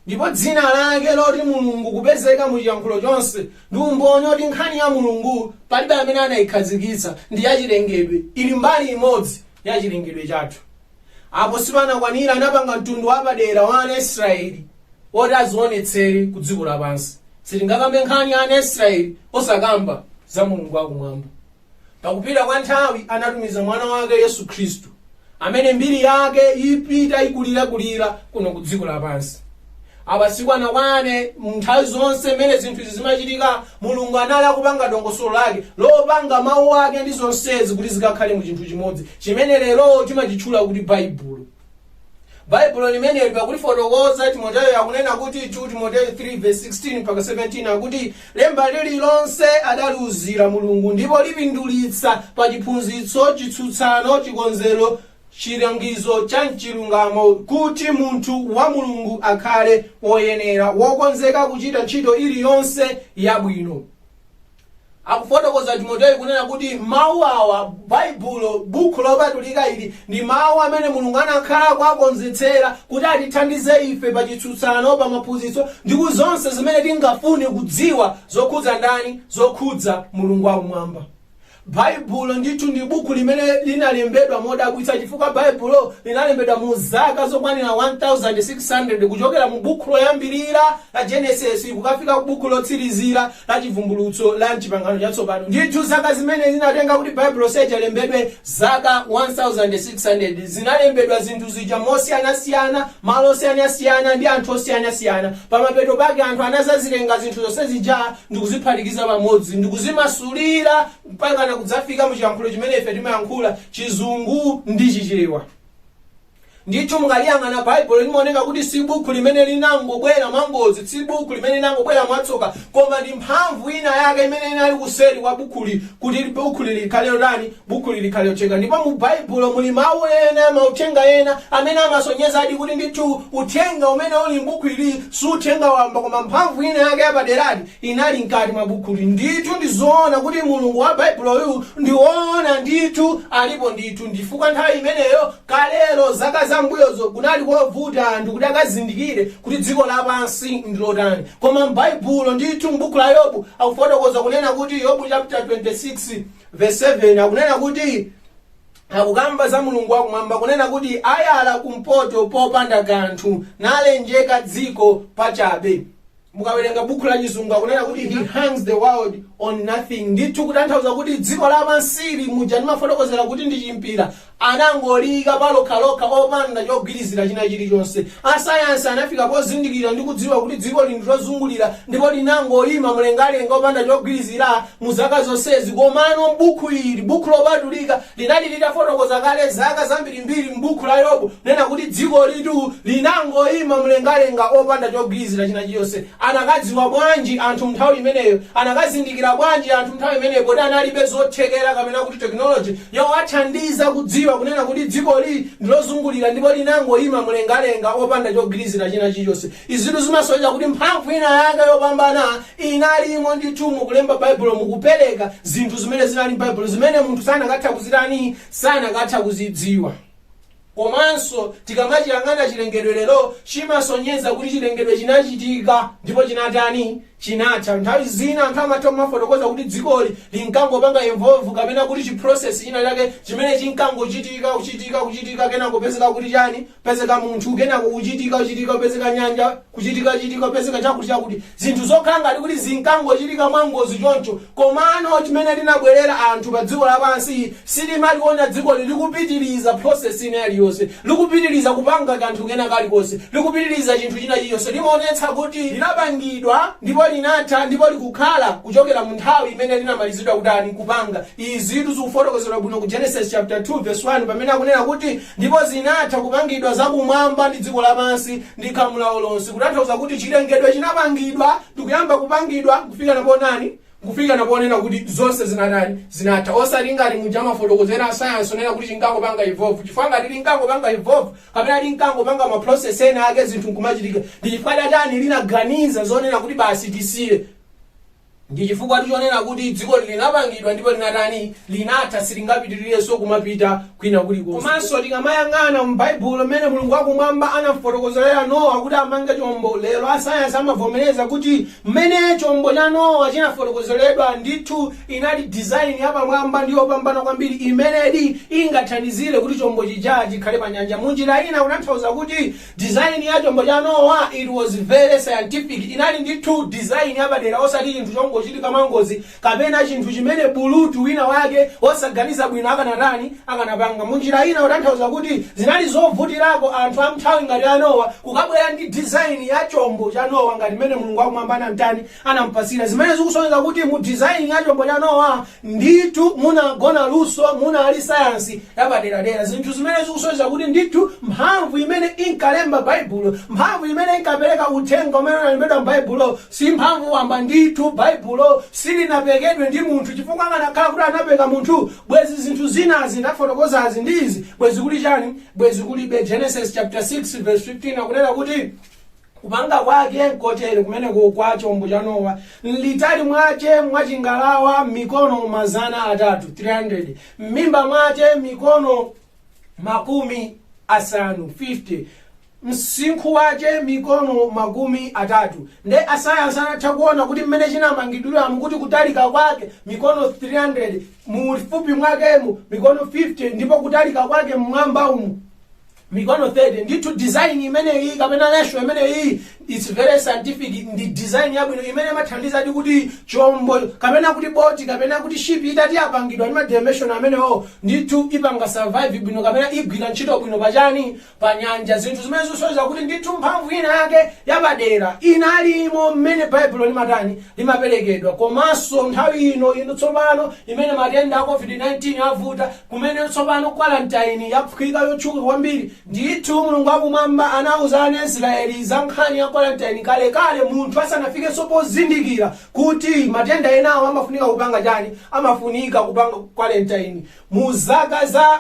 ndipo dzina lake loti mulungu kupezeka mu chiyankhulo chonse ndi umboni oti nkhani ya mulungu palibe amene anayikhazikitsa ndi yachilengedwe ili mbali imodzi ya chilengedwe chathu apo sipanakwanire anapanga mtundu wapadera wa ana israeli woti azionetsere ku dziko lapansi sitingakambe nkhani ya ana israeli osakamba za mulungu wakumwamba pakupita kwa nthawi anatumiza mwana wake yesu khristu amene mbiri yake ipita ikulirakulira kuno ku dziko lapansi apa sikunakwane nthawi zonse mmene zinthu izi zimachitika mulungu anali akupanga dongosolo lake lopanga mawu ake ndi zonsezi kuti zikakhale mu chinthu chimodzi chimene lero timachitchula kuti baibulo baibulo limeneli pakulifotokoza timoteyo akunena kuti 2 timoteyo 3 verse 16 mpaka 17 akuti lemba lililonse adaliuzira mulungu ndipo lipindulitsa pa chiphunzitso chitsutsano chikonzero chilangizo cha mchilungamo kuti munthu wa mulungu akhale woyenera wokonzeka kuchita ntchito iliyonse yabwino akufotokoza timoteyo kunena kuti mawu awa baibulo bukhu lopatulika ili ndi mawu amene mulungu anakhala kuwakonzetsera kuti atithandize ife pa chitsutsano pa maphunzitso ndi ku zonse zimene tingafune kudziwa zokhudza ndani zokhudza mulungu wakumwamba baibulo ndithu ndi buku limene linalembedwa modabwitsa chifukwa baibulo linalembedwa mu zaka zokwanira 1600 kuchokera mu buku loyambirira la genesis kukafika ku buku lotsirizira la Chivumbulutso la m'Chipangano Chatsopano. Ndithu, zaka zimene zinatenga kuti Baibulo lonse lilembedwe, zaka 1,600, zinalembedwa zinthu zija mosiyanasiyana, malo osiyanasiyana, ndi anthu osiyanasiyana. Pamapeto pake anthu anadzazitenga zinthu zonse zija ndi kuziphatikiza pamodzi ndi kuzimasulira mpakana kudzafika mu chiyankhulo chimene ife timayankhula, Chizungu ndi Chichewa. Ndithu mukaliyang'ana Baibulo limaoneka kuti si buku limene linangobwera mwangozi, si buku limene linangobwera mwatsoka, koma ndi mphamvu ina yake imene inali kuseri kwa bukuli kuti bukuli likhale lotani, bukuli likhale lotheka. Ndipo mu Baibulo muli mawu ena, mauthenga ena amene amasonyezadi kuti ndithu uthenga umene uli m'buku ili si uthenga wamba koma mphamvu ina yake yapaderadi inali mkati mwa bukhuli. Ndithu ndi zoona kuti Mulungu wa Baibulo uyu ndi woona ndithu, alipo ndithu, nchifukwa nthawi imeneyo, kalelo, zaka za m'mbuyozo, kunali kovuta anthu kuti akazindikire kuti dziko lapansi ndi lotani. Koma m'Baibulo, ndithu m'bukhu la Yobu, akufotokoza kunena kuti, Yobu chapter 26 vesi 7, akunena kuti, akukamba za Mulungu wa kumwamba, kunena kuti, ayala kumpoto popanda kanthu, nalenjeka dziko pachabe. mukawerenga buku la chizungu akunena kuti he hangs the world on nothing ndithu kutanthauza kuti dziko lapansili muja ndimafotokozera kuti ndi chimpira anangoliyika palokhalokha opanda chogwirizira china chilichonse asayansi anafika pozindikira ndi kudziwa kuti dzikoli nthu lozungulira ndipo linangoyima mlengalenga opanda chogwirizira mu zaka zomwezi komano buku ili buku lopatulika linali litafotokoza kale zaka zambirimbiri m'bukhu la Yobu, kunena kuti dzikolitu linangoima mlengalenga opanda chogwirizira china chilichonse. Anakadziwa bwanji anthu m'nthawi imeneyo? Anakazindikira bwanji anthu m'nthawi imeneyo poti analibe zothekera kapena kuti tekinoloje yowathandiza kudziwa kunena kuti dzikoli ndilozungulira ndipo linangoima mlengalenga opanda chogwirizira china chilichonse? Izitu zimasonyeza kuti mphamvu inayake yopambana inalimo ndithu mu kulemba Baibulo, mu kupereka zinthu zimene zinali m'Baibulo, zimene munthu sanakatha kuzitani, sanakatha kuzidziwa. Komanso tikamachiyang'ana chilengedwe lero, chimasonyeza kuti chilengedwe chinachitika ndipo chinatani, chinatha. Nthawi zina anthu amatha kumafotokoza kuti dzikoli linkangopanga evolve kapena kuti chi process china chake chimene chinkangochitika, kuchitika, kuchitika kenako kupezeka kuti chani, pezeka munthu kenako kuchitika kuchitika kupezeka nyanja kuchitika kuchitika kupezeka chakuti chakuti zinthu zokhala ngati kuti zinkangochitika mwangozi choncho komano chimene tinabwerera anthu pa dziko lapansi sitimaliona dzikoli likupitiriza process ina yaliyonse likupitiriza kupanga kanthu kena kalikonse likupitiriza chinthu china chilichonse limaonetsa kuti linapangidwa ndipo linatha ndipo likukhala kuchokera mu nthawi imene linamalizidwa kutani kupanga izitu zikufotokozedwa bwino ku genesis chapter 2 verse 1 pamene akunena kuti Ndipo zinatha kupangidwa za kumwamba ndi dziko lapansi ndi khamu lawo lonse, kutanthauza kuti chirengedwe chinapangidwa ndi kuyamba kupangidwa, kufika na potani? kufika na ponena kuti zonse zinatani? zinatha. Osati ngati muja amafotokozera asayansi onena kuti chinkangopanga evolve, chifukwa ngati linkangopanga evolve, kapena linkangopanga ma process ena ake zinthu nkumachitika, ndi chifukwa cha chani linaganiza zonena kuti basi tisiye? Ndi chifukwatu chonena kuti dzikoli linapangidwa ndipo linatani? Linatha, silingapitirirenso kumapita kwina kulikonse. Komanso tikamayang'ana mu Baibulo mmene Mulungu wa kumwamba anamufotokozerera Nowa kuti amange chombo, lero asayansi amavomereza kuti mmene chombo cha Nowa chinafotokozeredwa, ndithu inali design yapamwamba ndi yopambana kwambiri imenedi ingathandizire kuti chombo chija chikhale panyanja. Munjira ina kutanthauza kuti. Design ya chombo cha Nowa, it was very scientific, inali ndithu design yapadera osati chinthu chongochitika mwangozi kapena chinthu chimene bulutu wina wake wosaganiza bwino akanatani, akanapanga. Munjira ina kutanthauza kuti zinali zovutirako anthu a mnthawi ngati ya Nowa kukabwera ndi design ya chombo cha Nowa ngati mmene Mulungu wakumwamba anamtani, anampasira. Zimene zikusonyeza kuti mu design ya chombo cha Nowa Ndithu, munagona luso, munali sayansi yapaderadera, zinthu zimene zikusonyeza kuti ndithu mphamvu imene inkalemba Baibulo, mphamvu imene inkapereka uthenga umene unalembedwa m'Baibulowo, si mphamvu wamba. Ndithu, Baibulo silinapekedwe ndi munthu, chifukwa akanakhala kuti anapeka munthu, bwenzi zinthu zimene ndafotokozazi ndi izi bwenzi kuli chani? Bwenzi kulibe. Genesis chapter 6 verse 15 akunena kuti. Kupanga kwake kotere, kumeneko kwa chombo cha Nowa, m'litali mwache mwa chingalawa mikono mazana atatu, 300, m'mimba mwache mikono makumi asanu, 50, msinkhu wache mikono makumi atatu. Nde asayansi anatha kuona kuti m'mene chinamangidwiramo kuti kutalika kwake mikono 300, muulifupi mwakemu mikono 50 ndipo kutalika kwake m'mwamba umu, mikono 30 ndithu design imeneyi kapena ratio imeneyi it's very scientific ndi design yabwino imene imathandiza kuti chombo kapena kuti boti kapena kuti ship itati yapangidwa ndi madimension amenewo ndithu ipanga survive bwino kapena igwira ntchito bwino pachani pa nyanja zinthu zimene zisonyeza kuti ndithu mphamvu ina yake yapadera inalimo mmene baibulo limatani limaperekedwa komanso nthawi ino ino tsopano imene matenda a covid-19 avuta Kumene tsopano quarantine yafika yotchuka kwambiri. Ndithu, Mulungu wa Kumwamba anauza ana a Israyeli za nkhani ya quarantine kalekale munthu asanafikenso pozindikira kuti matenda enawo amafunika kupanga chani? Amafunika kupanga quarantine. Mu zaka za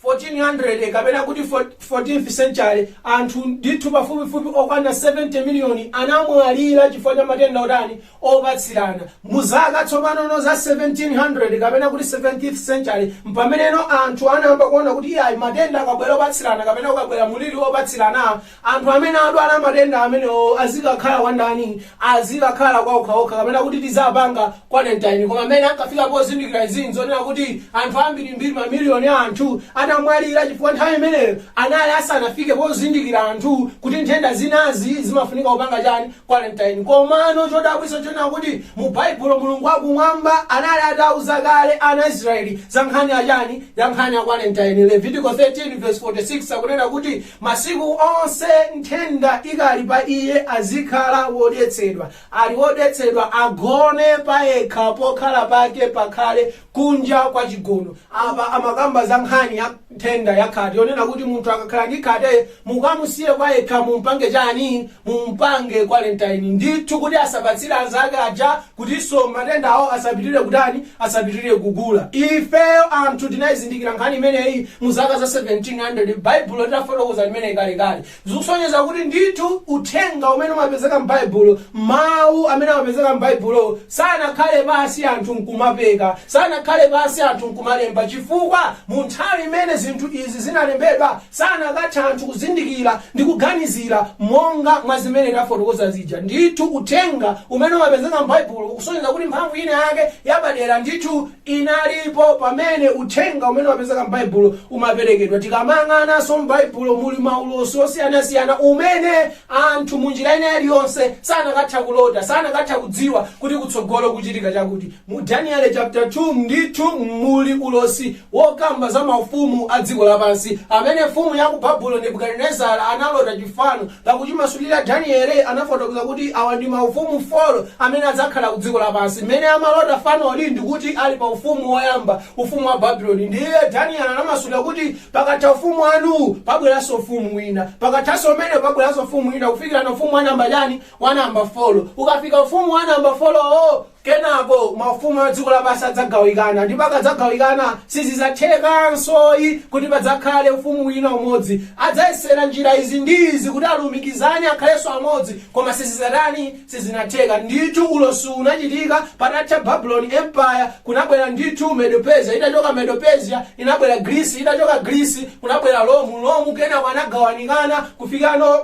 1400 kapena kuti 14th century, anthu ndithu pafupifupi okwana 70 miliyoni anamwalira chifukwa cha matenda otani? opatsirana. Mu zaka tsopanono za 1700 kapena kuti 17th century m'pameneno anthu anayamba kuona kuti iyayi matenda akabwera opatsirana kapena kukabwera mliri opatsirana anthu amene adwala matenda amenewowo azikakhala kwa ndani? Azikakhala kwa okhaokha kapena kuti tizapanga quarantine. Koma m'mene ankafika pozindikira izi n'zonena kuti anthu ambirimbiri mamiliyoni a anthu atamwalira chifukwa nthawi imeneyo anali asanafike pozindikira anthu kuti nthenda zinazi zimafunika kupanga chani? Quarantine. Komano chodabwitsa chonena kuti mu Baibulo Mulungu wa kumwamba anali atauza kale ana Israeli za nkhani ya chani? Ya nkhani ya quarantine. Levitiko 13:46 akunena kuti masiku onse nthenda ikali pa iye azikhala wodetsedwa. Ali wodetsedwa agone payekha pokhala pake pakhale kunja kwa chigono. Apa amakamba za nkhani ya nthenda ya khate yonena kuti munthu akakhala ndi khate mukamusiye kwayekha mumpange chani mumpange quarantine ndithu kuti asapatsire anzake aja kutinso matendawo asapitirire kutani asapitirire kukula ifeyo anthu tinayizindikira nkhani imeneyi mu zaka za 1700 baibulo litafotokoza limeneyi kalekale zikusonyeza kuti ndithu uthenga umene umapezeka m'Baibulo, mawu amene amapezeka m'Baibulo, sanakhale pansi anthu n'kumapeka, sanakhale pansi anthu n'kumalemba chifukwa mu nthawi imene zinthu izi zinalembedwa sanakatha anthu kuzindikira ndi kuganizira monga mwa zimene tafotokoza zija. Ndithu uthenga umene umapezeka m'Baibulo ukusonyeza kuti mphamvu inayake yapadera ndithu inalipo pamene uthenga umene umapezeka m'Baibulo umaperekedwa. Tikamayang'ananso m'Baibulo muli maulosi osiyanasiyana umene anthu mu njira ina iliyonse sanakatha kulota, sanakatha kudziwa kuti kutsogolo kuchitika chakuti. Mu Daniele chapter 2 ndithu muli ulosi wokamba za maufumu a dziko lapansi amene mfumu ya ku Babulo Nebukadinezara analota chifano Pa kutimasulira, Danieli anafotokoza kuti awa ndi maufumu 4 amene adzakhala ku dziko lapansi. Mmene amalota fanoli ndi kuti ali pa ufumu woyamba, ufumu wa Babuloni. Ndiye Danieli anamasulira kuti, Pakatha ufumu wanuwu, pabweranso ufumu wina. Pakathanso umenewo, pabweranso ufumu wina kufikirana ufumu wa namba chani? Wa namba folo. Ukafika ufumu wa namba folowo, Kenako maufumu a dziko lapansi adzagawikana, ndipo akadzagawikana sizidzathekansoyi kuti padzakhale ufumu wina umodzi. Adzayesera njira izi ndi izi kuti alumikizane akhalenso amodzi, koma sizidzatani? Sizinatheka. Ndithu ulosiwu unachitika patatha Babuloni Empire, kunabwera ndithu Medo-Persia, itachoka Medo-Persia, inabwera Greece, itachoka Greece, kunabwera Rome, Rome kenako anagawanikana kufikano.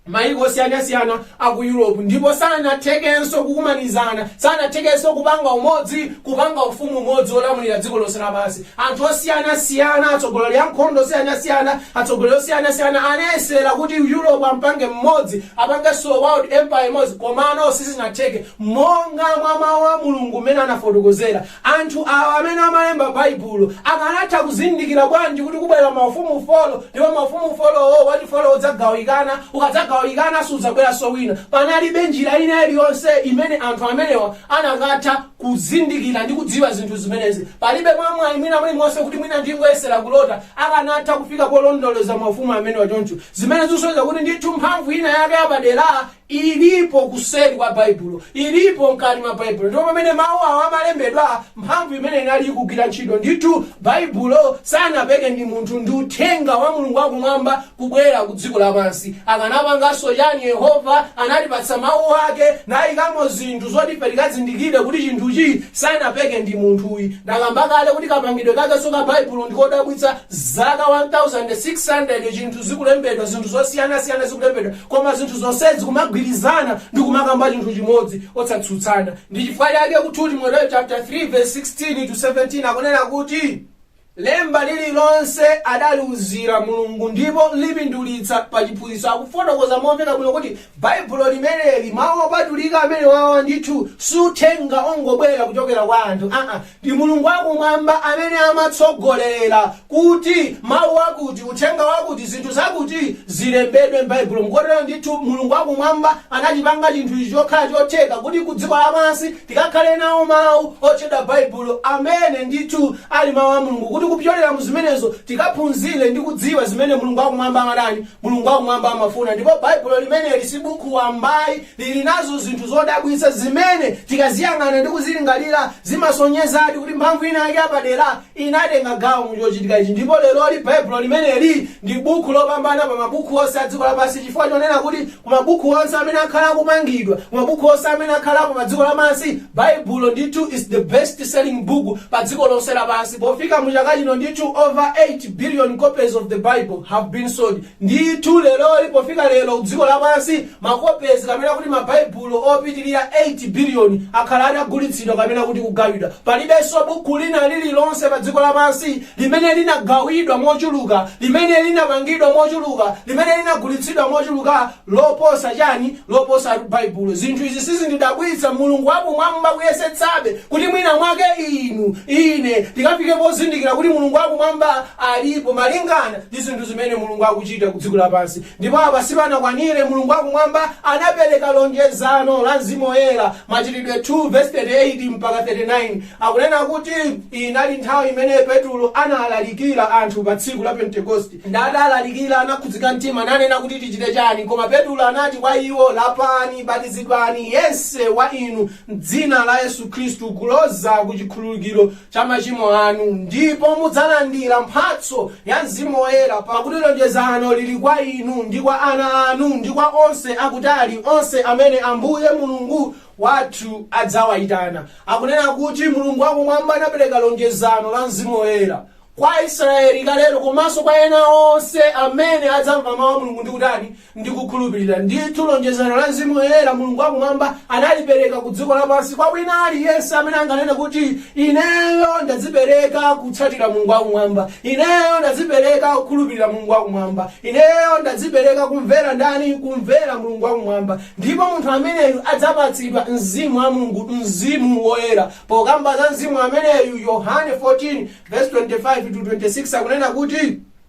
mayiko osiyanasiyana a ku europe ndipo sanathekenso kukumanizana sanathekenso kupanga umodzi kupanga ufumu umodzi wolamulira dziko lonse lapansi anthu osiyanasiyana atsogoleri a nkhondo osiyanasiyana atsogoleri osiyanasiyana anayesera kuti europe ampange mmodzi apangenso world empire imodzi komano sizinatheke monga mwa mawu a mulungu mmene anafotokozera Anthu awa amene amalemba Baibulo akanatha kuzindikira bwanji kuti kubwera maufumu folo ndipo maufumu folowo, wachifolo udzagawikana, ukadzagawikana sudzabweranso wina? Panalibe njira ina iliyonse imene anthu amenewa anakatha kuzindikira ndi kudziwa zinthu zimenezi. Palibe mwamwayi mwina mulimonse kuti mwina ndingoyesera kulota, akanatha kufika polondoloza maufumu amenewa choncho, zimene zikusonyeza kuti ndithu mphamvu ina yake yapadera Ilipo kuseri kwa Baibulo. Ilipo mkati mwa Baibulo. Ndipo pamene Mawu awa amalembedwa, mphamvu imene inali ikugwira ntchito. Ndithu, Baibulo sanapeke ndi munthu, ndi Uthenga wa Mulungu wa Kumwamba kubwera ku dziko lapansi. Akanapanganso chani? Yehova anatipatsa Mawu Ake nayikamo zinthu zoti ife tikazindikire kuti chinthuchi sanapeke ndi munthuyi. Ndakamba kale kuti kapangidwe kakenso ka Baibulo ndi kodabwitsa. Zaka 1,600 chinthu zikulembedwa, zinthu zosiyanasiyana zikulembedwa, Koma zinthu zonsezi kumagwirizana ndi kumakamba chinthu chimodzi, osatsutsana. Ndi chifukwa chake ku 2 Timoteo chaputala 3 vesi 16 to 17 akunena kuti, Lemba lililonse adaliuzira Mulungu ndipo lipindulitsa pa chiphunzitso. Akufotokoza momveka bwino kuti Baibulo limeneli, Mawu Opatulika amenewawa ndithu si uthenga ongobwera kuchokera kwa anthu aa, Ndi Mulungu wa Kumwamba amene amatsogolera kuti mawu akuti, uthenga wakuti, zinthu zakuti, zilembedwe m'Baibulo. Mkotero ndithu, Mulungu wa Kumwamba anachipanga chinthu ichi chokhala chotheka kuti ku dziko lapansi tikakhale nawo mawu otchedwa Baibulo amene ndithu ali mawu a Mulungu kuti kupyolera mu zimenezo tikaphunzire ndi kudziwa zimene Mulungu wa Kumwamba amatani, Mulungu wa Kumwamba amafuna. Ndipo Baibulo limeneli si bukhu wambayi. lili nazo zinthu zodabwitsa zimene tikaziyang'ana ndi kuzilingalira, zimasonyezadi kuti mphamvu inayake yapadera inatenga gawo mu chochitika ichi. Ndipo leroli, Baibulo limeneli ndi bukhu lopambana pa mabukhu onse a dziko lapansi chifukwa chonena kuti ku mabukhu onse amene akhala akupangidwa, ku mabukhu onse amene akhalapo pa dziko lapansi, Baibulo ndithu is the best selling book pa dziko lonse lapansi. Pofika mu chaka chino ndithu over 8 billion copies of the Bible have been sold. Ndithu leroli, pofika lero, dziko lapansi, Makopezi kapena kuti Mabaibulo opitirira 8 biliyoni akhala atagulitsidwa kapena kuti kugawidwa. Palibenso buku lina lililonse padziko lapansi limene linagawidwa mochuluka, limene linapangidwa mochuluka, limene linagulitsidwa mochuluka loposa chani? loposa Baibulo. Zinthu izi sizindidabwitsa. Mulungu wa Kumwamba kuyesetsabe kuti mwinamwake inu, ine, tikafike pozindikira kuti Mulungu wa Kumwamba alipo, malingana ndi zinthu zimene Mulungu akuchita ku dziko lapansi. Ndipo apa sipanakwanire, Mulungu wa Kumwamba anapereka lonjezano la Mzimu Woyera, Machitidwe 2 vesi 38 mpaka 39, akunena kuti inali nthawi imene Petro analalikira anthu pa tsiku la Pentekosti. Ndi atalalikira, anakhudzika mtima, nanena kuti tichite chani? Koma Petro anati kwa iwo, Lapani, batizidwani, yense wa inu, m'dzina la Yesu Khristu, kuloza ku chikhululukiro cha machimo anu, ndipo mudzalandira mphatso ya Mzimu Woyera, pakuti lonjezano lili kwa inu, ndi kwa ana anu, ndi kwa onse akutali, onse amene Ambuye Mulungu wathu adzawaitana. Akunena kuti Mulungu wakumwamba anapereka lonjezano la Mzimu Woyera kwa Aisraeli kalelo, komanso kwa ena onse amene adzamva mawu a Mulungu ndi kutani? Ndi kukhulupirira. Ndithu lonjezano la Mzimu Woyera Mulungu wa Kumwamba analipereka ku dziko lapansi kwa wina aliyense amene anganene kuti, Ineyo ndadzipereka kutsatira Mulungu wa Kumwamba. Ineyo ndadzipereka kukhulupirira Mulungu wa Kumwamba. Ineyo ndadzipereka kumvera ndani? Kumvera Mulungu wa Kumwamba. Ndipo munthu ameneyu adzapatsidwa Mzimu wa Mulungu, Mzimu Woyera. Pokamba za Mzimu ameneyu, Yohane 14 vesi 25 to 26 akunena kuti.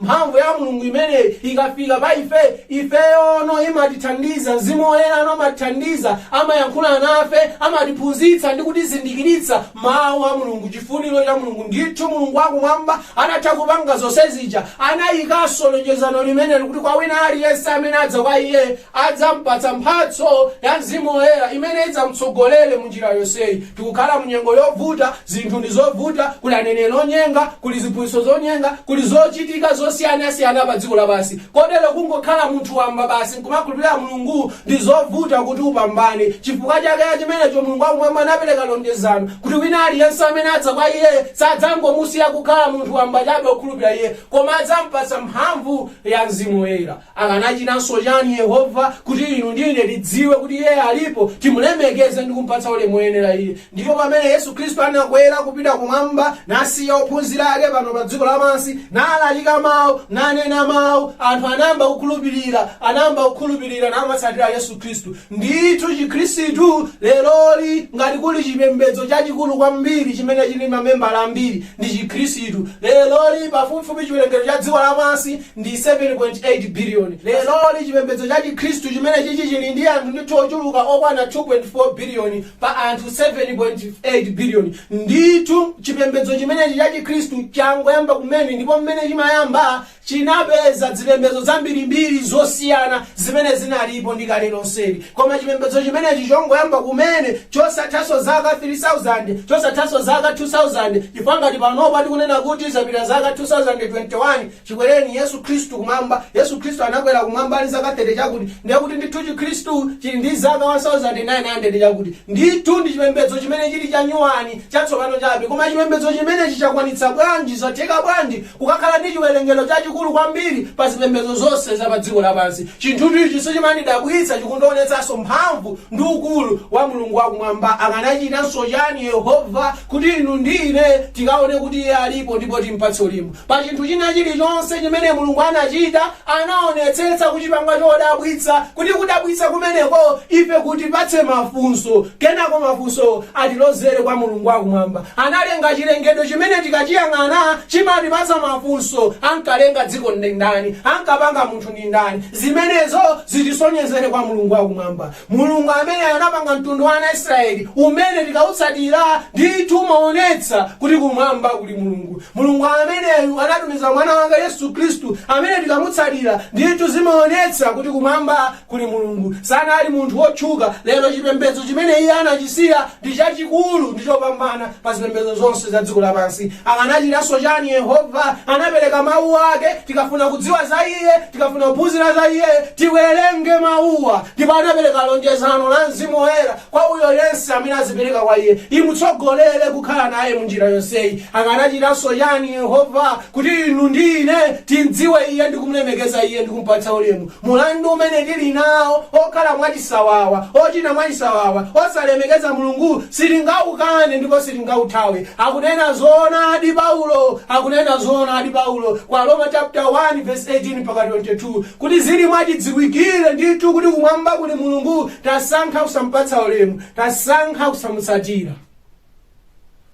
Mphamvu ya Mulungu imeneyi ikafika pa ife, ifeyono imatithandiza. Mzimu Woyera amatithandiza, amayankhula nafe, amatiphunzitsa ndi kutizindikiritsa Mawu a Mulungu, chifuniro cha Mulungu. Ndithu, Mulungu wa Kumwamba atatha kupanga zonse zija, anayikanso lonjezano limene likuti kwa wina aliyense amene adza kwa Iye, Adzam'patsa mphatso ya Mzimu Woyera imene idzam'tsogolere mu njira yonseyi. Tikukhala mu nyengo yovuta, zinthu ndi zovuta, kuli aneneri onyenga, kuli ziphunzitso zonyenga, kuli zochitika zosiyanasiyana pa dziko lapansi. Kotero kungokhala munthu wamba basi n'kumakhulupirira Mulungu ndi zovuta kuti upambane. Chifukwa chake cha chimenecho Mulungu wa Kumwamba anapereka lonjezano kuti wina aliyense amene adza kwa Iye sadzangomusiya kukhala munthu wamba chabe okhulupirira Iye, koma adzam'patsa mphamvu ya Mzimu Woyera. Akanachitanso chani Yehova kuti inu ndi ine tidziwe kuti Iye alipo, timulemekeze ndi kumpatsa ulemu oyenera Iye? Ndipo pamene Yesu Khristu anakwera kupita kumwamba nasiya ophunzira ake pano pa dziko lapansi, nalalika mau, nanena mau, anthu anayamba kukhulupirira, anayamba kukhulupirira namatsatira Yesu Khristu. Ndithu Chikhristu leroli ngati kuli chipembedzo chachikulu kwambiri chimene chili ndi mamembala ambiri ndi Chikhristu. Leroli pafupifupi chiwerengero cha dziko lapansi ndi 7.8 biliyoni leroli chipembedzo cha chikhristu chimenechi chili ndi anthu ndithu ochuluka okwana 2.4 biliyoni pa anthu 7.8 biliyoni ndithu chipembedzo chimenechi cha chikhristu changoyamba kumene ndipo mmene chimayamba chinapeza zipembedzo zambirimbiri zosiyana zimene zinalipo ndi kale lonseli koma chipembedzo chimenechi chongoyamba kumene chosathanso zaka 3000 chosathanso zaka 2000 chifukwa ngati panopa tikunena kuti zapita zaka 2021 Chikwereni Yesu Khristu Kumwamba, Yesu Khristu anakwera kumwamba ali zaka 30 chakuti, ndiye kuti ndithu chikhristu chili ndi zaka 1900 chakuti. Ndithu ndi chipembedzo chimene chili chanyuwani, chatsopano chabe, koma chipembedzo chimenechi chakwanitsa bwanji, zatheka bwanji kukakhala ndi chiwerengero chachikulu kwambiri pa zipembedzo zonse za pa dziko lapansi? Chinthu ichi sichimandidabwitsa, chikundionetsanso mphamvu ndi ukulu wa Mulungu wa Kumwamba. Akanachitanso chani Yehova kuti inu ndi ine tikaone kuti Iye alipo ndipo timpatse ulemu? Pa chinthu china chilichonse chimene Mulungu anachita, anaonetsetsa kuchipanga chodabwitsa, kuti kudabwitsa kumeneko ife kutipatse mafunso, kenako mafunso atilozere kwa Mulungu wa Kumwamba. Analenga chilengedwe chimene tikachiyang'ana chimatipatsa mafunso, ankalenga dziko ndi ndani? Ankapanga munthu ndi ndani? Zimenezo zitisonyezere kwa Mulungu wa Kumwamba. Mulungu amene anapanga mtundu wa ana a Israeli umene tikautsatira ndithu umaonetsa kuti kumwamba kuli Mulungu. Mulungu ameneyu anatumiza mwana wake Yesu Khristu amene tikamutsatira ndithu zimaonetsa kuti kumwamba kuli Mulungu. Sanali munthu wotchuka lero chipembedzo chimene iye anachisiya ndi chachikulu ndi chopambana pa zipembedzo zonse za dziko lapansi. Akanachitanso chani Yehova? Anapereka mau ake. Tikafuna kudziwa za iye Tikafuna kuphunzira za iye, tiwerenge mawuwa, ndipo anapereka lonjezano la Mzimu Woyera kwa uyo yense amene azipereka kwa iye. Imutsogolere kukhala naye mu njira yonseyi. Akanachitanso chani Yehova kuti inu ndi ine timdziwe iye ndi kumlemekeza iye ndi kumpatsa ulemu? Mulandu umene tili nawo okhala mwachisawawa, ochita mwachisawawa, osalemekeza Mulungu sitingaukane ndipo sitingauthawe. akunena zoonadi paulo akunena zoonadi paulo kwa roma chapter 1 verse 18 mpaka 22 kuti zili mwachidziwikire ndithu kuti kumwamba kuli mulungu tasankha kusampatsa ulemu tasankha kusamutsatira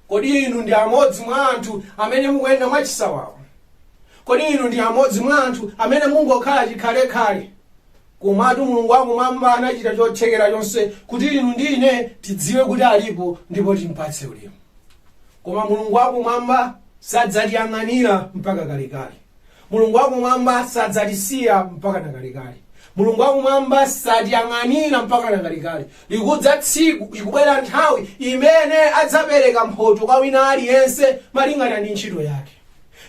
kodi inu ndi amodzi mwa anthu amene mukuyenda mwachisawawa kodi inu ndi amodzi mwa anthu amene mungokhala chikhalekhale Komatu Mulungu wa Kumwamba anachita chothekera chonse kuti inu ndi ine tidziwe kuti alipo ndipo timpatse ulemu. Koma Mulungu wa Kumwamba sadzatiyang'anira mpaka kalekale. Mulungu wa Kumwamba sadzatisiya mpaka na kalekale. Mulungu wa Kumwamba satiyang'anira mpaka na kalekale. Likudza tsiku, ikubwera nthawi imene adzapereka mphotho kwa wina aliyense malingana ndi ntchito yake.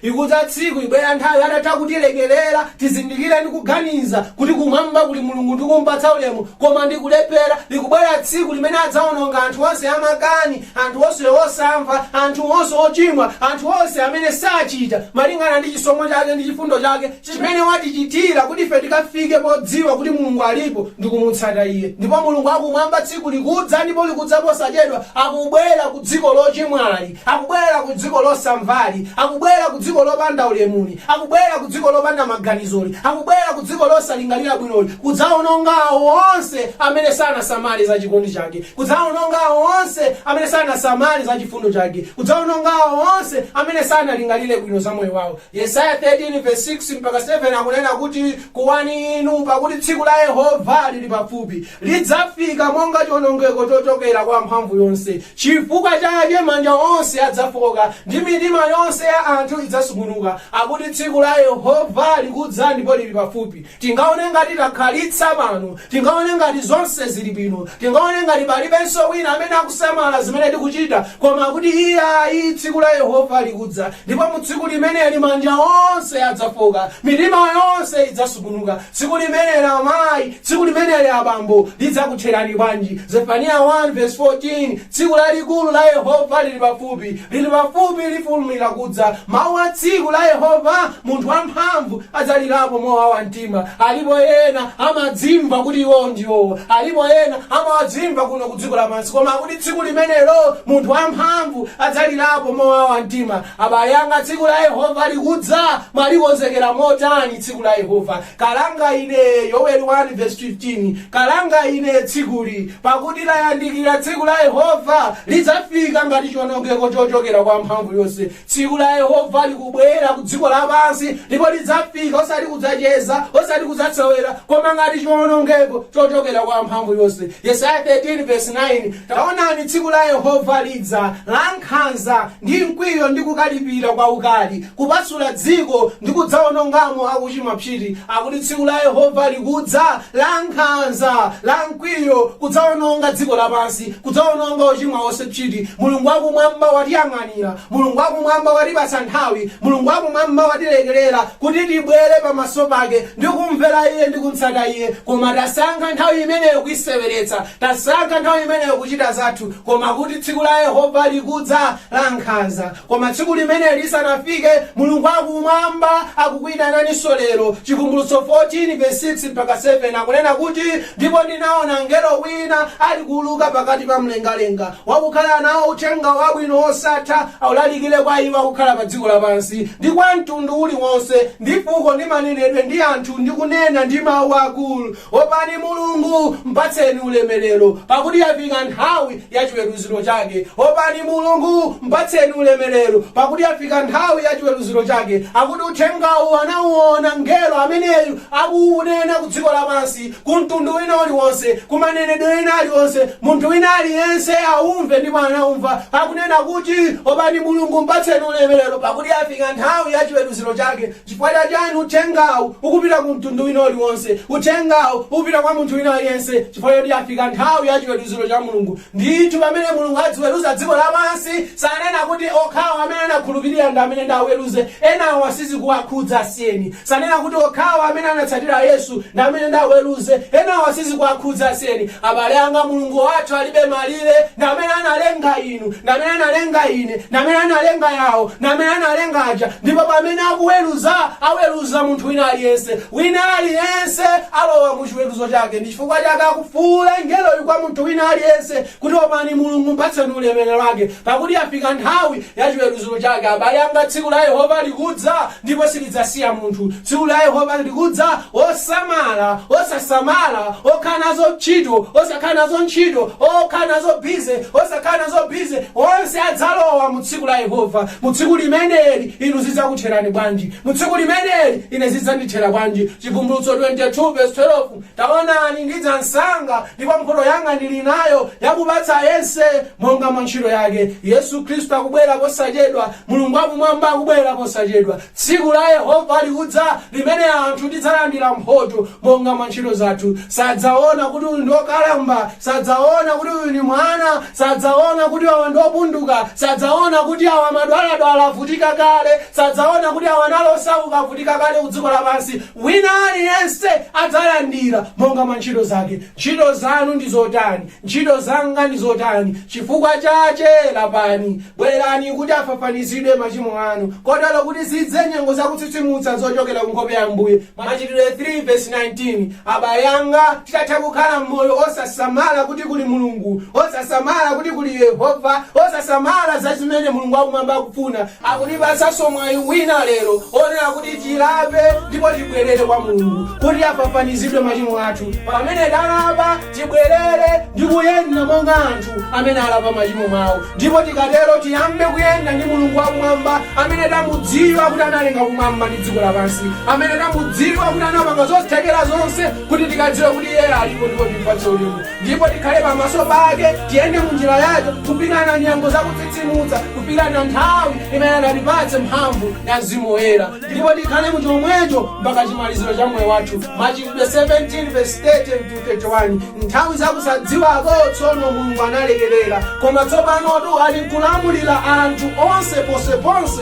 Ikudza tsiku, ibwera nthawi atatha kutilekelera tizindikire ndi kuganiza kuti kumwamba kuli Mulungu ndi kumpatsa ulemu koma ndi kulephera. Likubwera tsiku limene adzaononga anthu onse amakani, anthu onse osamva, anthu onse ochimwa, anthu onse amene sachita malingana ndi chisomo chake ndi chifundo chake chimene watichitira kuti ife tikafike podziwa kuti Mulungu alipo ndi kumutsata Iye. Ndipo Mulungu wakumwamba tsiku likudza ndipo likudza posachedwa akubwera kudziko lochimwali. Akubwera ku dziko losamvali, akubwera ku dziko lopanda ulemuli, akubwera ku dziko lopanda maganizoli, akubwera ku dziko losalingalira bwinoli, kudzawononga awo onse amene sanasamale za chikondi Chake, kudzawononga awo onse amene sanasamale za chifundo Chake, kudzawononga awo onse amene sanalingalire bwino za moyo wawo. Yesaya 13 vesi 6-7 akunena kuti, Kuwani inu, pakuti tsiku la Yehova liri pafupi. Lidzafika monga chiwonongeko chochokera kwa Wamphamvuyonse. Chifukwa chake manja onse adzafooka, ndi mitima yonse ya anthu idzasungunuka. Akuti tsiku la Yehova likudza ndipo lili pafupi. Tingaone ngati takhalitsa pano. Tingaone ngati zonse zili bwino. Tingaone ngati palibenso wina amene akusamala zimene tikuchita. Koma akuti iyayi, tsiku la Yehova likudza, ndipo mu tsiku limeneli manja onse adzafooka, mitima yonse idzasungunuka. Tsiku limeneli, amayi! Tsiku limeneli abambo, lidzakutherani bwanji? Zefaniya 1 vesi 14 Tsiku lalikulu la Yehova liri pafupi, liri pafupi, lifulumira kudza, mau a tsiku la Yehova, munthu wamphamvu adzalirapo mowawa mtima. Alipo ena amadzimva kuti iwowo ndiwo, alipo ena amadzimva kuno ku dziko lapansi, koma kuti tsiku limenelo munthu wamphamvu adzalirapo mowawa mtima. Abale anga, tsiku la Yehova likudza, mwalikonzekera motani tsiku la Yehova? Kalanga ine! Yoweli 1 vesi 15 Kalanga ine tsikuli! Pakuti layandikira tsiku la Yehova, lidzafika ngati chionongeko chochokera kwa mphamvu yonse. Tsiku la Yehova likubwera ku dziko lapansi, ndipo lidzafika osati kudzacheza, osati kudzasewera, koma ngati chionongeko chochokera kwa mphamvu yonse. Yesaya 13 vesi 9 Taonani tsiku la Yehova lidza, lankhanza ndi mkwiyo ndi kukalipira kwaukali, kupasula dziko ndi kudzawonongamo akuchimwa psiti, akuti tsiku la Yehova likudza, lankhanza, lamkwiyo, kudzawononga dziko lapansi, kudzawononga ochimwa onse psiti, Mulungu wa Kumwamba watiyang'anira, Mulungu wa Kumwamba watipatsa nthawi, Mulungu wa Kumwamba watilekerera kuti tibwere pamaso pake ndi kumvera Iye ndi kumtsata Iye, koma tasankha nthawi imeneyo kuiseweretsa, tasankha nthawi imeneyo kuchita zathu, koma kuti tsiku la Yehova likudza, lankhanza. Koma tsiku limeneli lisanafike, Mulungu wa Kumwamba akukuitananso lero. Chivumbulutso 14 vesi 6 mpaka 7 akunena kuti, Ndipo ndinaona mngelo wina alikuuluka pakati pa mlengalenga, wakukhala nao Uthenga Wabwino wosatha, aulalikire kwa iwo akukhala padziko lapansi, ndi kwa mtundu uli wonse, ndi fuko, ndi manenedwe, ndi anthu, ndi kunena ndi mau akulu. Opani Mulungu, mpatseni ulemerero, pakuti yafika nthawi ya chiweruziro chake. Opani Mulungu, mpatseni ulemerero, pakuti yafika nthawi ya chiweruziro chake. Akuti uthengawu anauona mngelo ameneyu akuunena ku dziko lapansi, ku mtundu wina uliwonse, ku manenedwe ena alionse, munthu wina aliyense aumve ndipo anaumva. Akunena kuti, Opani Mulungu, mpatseni ulemerero, pakuti yafika nthawi ya chiweruziro chake. Chifukwa cha chani uthengawu ukupita ku mtundu wina uliwonse? Uthengawu ukupita kwa munthu wina aliyense chifukwa choti yafika nthawi ya chiweruziro cha Mulungu. Ndithu pamene Mulungu adziweruza dziko lapansi, sanena kuti okhawo amene anakhulupirira ndi amene ndiwaweruze, enawo sizikuwakhudza asiyeni. Sanena kuti okhawo amene anatsatira Yesu ndi amene ndiwaweruze, enawo sizikuwakhudza asiyeni. Abale anga Mulungu wathu alibe malire, ndi amene analenga. inu, ndi amene analenga ine, ndi amene analenga awo, ndi amene analenga aja, ndipo pamene akuweruza, aweruza munthu wina aliyense. Wina aliyense alowa mu chiweruzo chake, ndi chifukwa chake akufuula ngeloyu kwa munthu wina aliyense kuti opani Mulungu, mpatseni ulemerero wake, pakuti yafika nthawi ya chiweruzo chake. Abale anga, tsiku la Yehova likudza, ndipo silidzasiya munthu. Tsiku la Yehova likudza, osamala, osasamala, okhala nazo ntchito, osakhala nazo ntchito, okhala nazo busy, osakhala nazo busy, onse adzalowa mu tsiku la Yehova. Mu tsiku limeneli inu zidzakutherani bwanji? Mu tsiku limeneli ine zidzandithera bwanji? Chivumbulutso 22 verse 12 Taonani, ndidza msanga, ndipo mphoto yanga ndili nayo, yakupatsa yense monga mwa ntchito yake. Yesu Khristu akubwera posachedwa. Mulungu wa Kumwamba akubwera posachedwa. Tsiku la Yehova likudza limene anthu tidzalandira mphoto monga mwa ntchito zathu. Sadzaona kuti uyu ndi wokalamba, sadzaona kuti uyu ndi mwana, sadzaona kuti awa ndi opunduka, sadzaona kuti awa amadwaladwala, avutika kale, sadzaona kuti awa anali osauka, avutika kale ku dziko lapansi. Wina aliyense adzalandira monga mwa nchito zake. Nchito zanu ndi zotani? Nchito zanga ndi zotani? Cifukwa cace lapani, bwerani kuti afafanizidwe macimo anu, kotero kuti zidze nyengo zakutsitsimutsa zocokera ku nkhope ya Ambuye, Macitidwe 3 vesi 19 Abale anga, titatha kukhala m'moyo osasamala kuti kuli Mulungu, osasamala kuti kuli Yehova, osasamala za zimene Mulungu wakumwamba akufuna, Akutipatsanso mwayi wina lero onena kuti tilape ndipo tibwelere kwa Mulungu kuti afafanizidwe machimo athu. Pamene talapa, tibwelere ndi kuyenda monga anthu amene alapa machimo awo ndipo tikatero tiyambe kuyenda ndi Mulungu wa kumwamba amene tamudziwa kuti analenga kumwamba ndi dziko lapansi, amene tamudziwa kuti anapanga zothekera zonse kuti tikadziwe kuti iyeyo alipo ndipo timpatse ulemu. ndipo tikhale pamaso pake tiyende munjira yake kupirana nyengo zakutsitsimutsa kufikana nthawi imene adzatipatse mphamvu ya mzimu woyera ndipo tikhale mu chomwecho mpaka chimaliziro cha moyo wathu machitidwe 17 verse 30 to 31 nthawi zakusadziwako tsono mulungu analekerera koma tsopanotu ali nkulamulira anthu onse ponseponse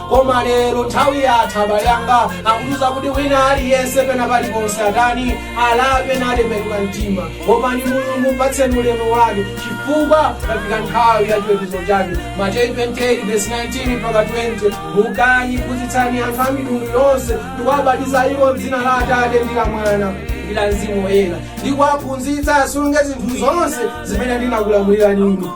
koma lero nthawi yatha abale anga akutiuza kuti wina aliyense pena paliponse atani alape natembenuka mtima opani mulungu mpatseni ulemu wake chifukwa tafika nthawi ya chiweruzo chake mateyu 28 verse 19 mpaka 20 mukani phunzitsani anthu a mitundu yonse ndikuwabatiza iwo mdzina la atate ndi la mwana ndi la mzimu woyera ndikuwaphunzitsa asunge zinthu zonse zimene ndinakulamulirani inu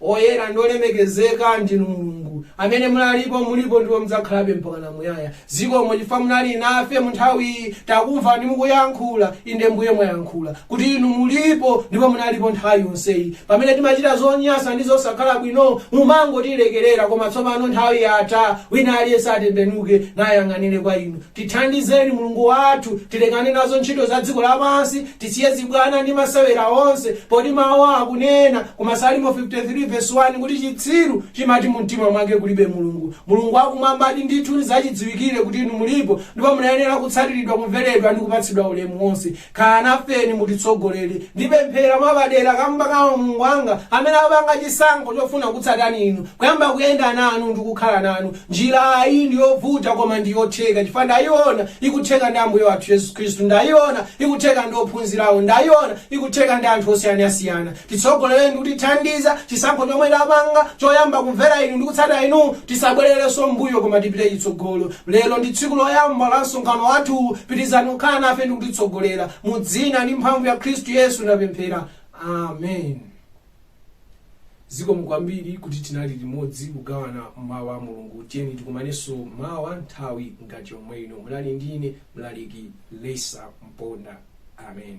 Oyera ndi olemekezeka ndinu Mulungu, amene munalipo, mulipo ndipo mudzakhalabe mpakana muyaya. Zikomo chifukwa munali nafe munthawiyi, takumvani mukuyankhula, inde Mbuye mwayankhula kuti Inu mulipo ndipo munalipo nthawi yonseyi. Pamene timachita zonyasa ndi zosakhala bwino, mumangotilekelera koma tsopano nthawi yatha, wina aliyense atembenuke nayang'anire kwa Inu. Tithandizeni Mulungu wathu tilekane nazo ntchito za dziko lapansi, tisiye zibwana ndi masewera onse, poti Mawu akunena ku Masalimo 53 vesi 1 kuti chitsiru chimati mumtima mwake kulibe Mulungu. Mulungu wa Kumwambadi ndithu nzachidziwikire kuti Inu mulipo ndipo mumayenera kutsatiridwa, kumveredwa ndi kupatsidwa ulemu wonse. Khalani nafeni mutitsogolere. Ndipemphera mwapadera kamba ka m'bale wanga amene wapanga chisankho chofuna kukutsatani inu, kuyamba kuyenda nanu ndi kukhala nanu. Njira iyi ndi yovuta koma ndi yotheka chifukwa ndayiona ikutheka ndi Ambuye wathu Yesu Khristu, ndayiona ikutheka ndi ophunzirawo, ndayiona ikutheka ndi anthu osiyanasiyana. Titsogolereni ndi kutithandiza, chisankho chomwe tapanga choyamba kumvera Inu ndi kutsata Inu, tisabwererenso m'mbuyo koma tipite chitsogolo. Lero ndi tsiku loyamba la msonkhano wathuwu, pitirizani kukhala nafe ndi kutitsogolera. Mu dzina ndi mphamvu ya Khristu Yesu ndapemphera. Amen. Zikomo kwambiri kuti tinali limodzi kugawana mawu a Mulungu. Tiyeni tikumanenso mawa nthawi ngati yomwe ino. Munali ndi ine mlaliki Lesa Mponda. Amen.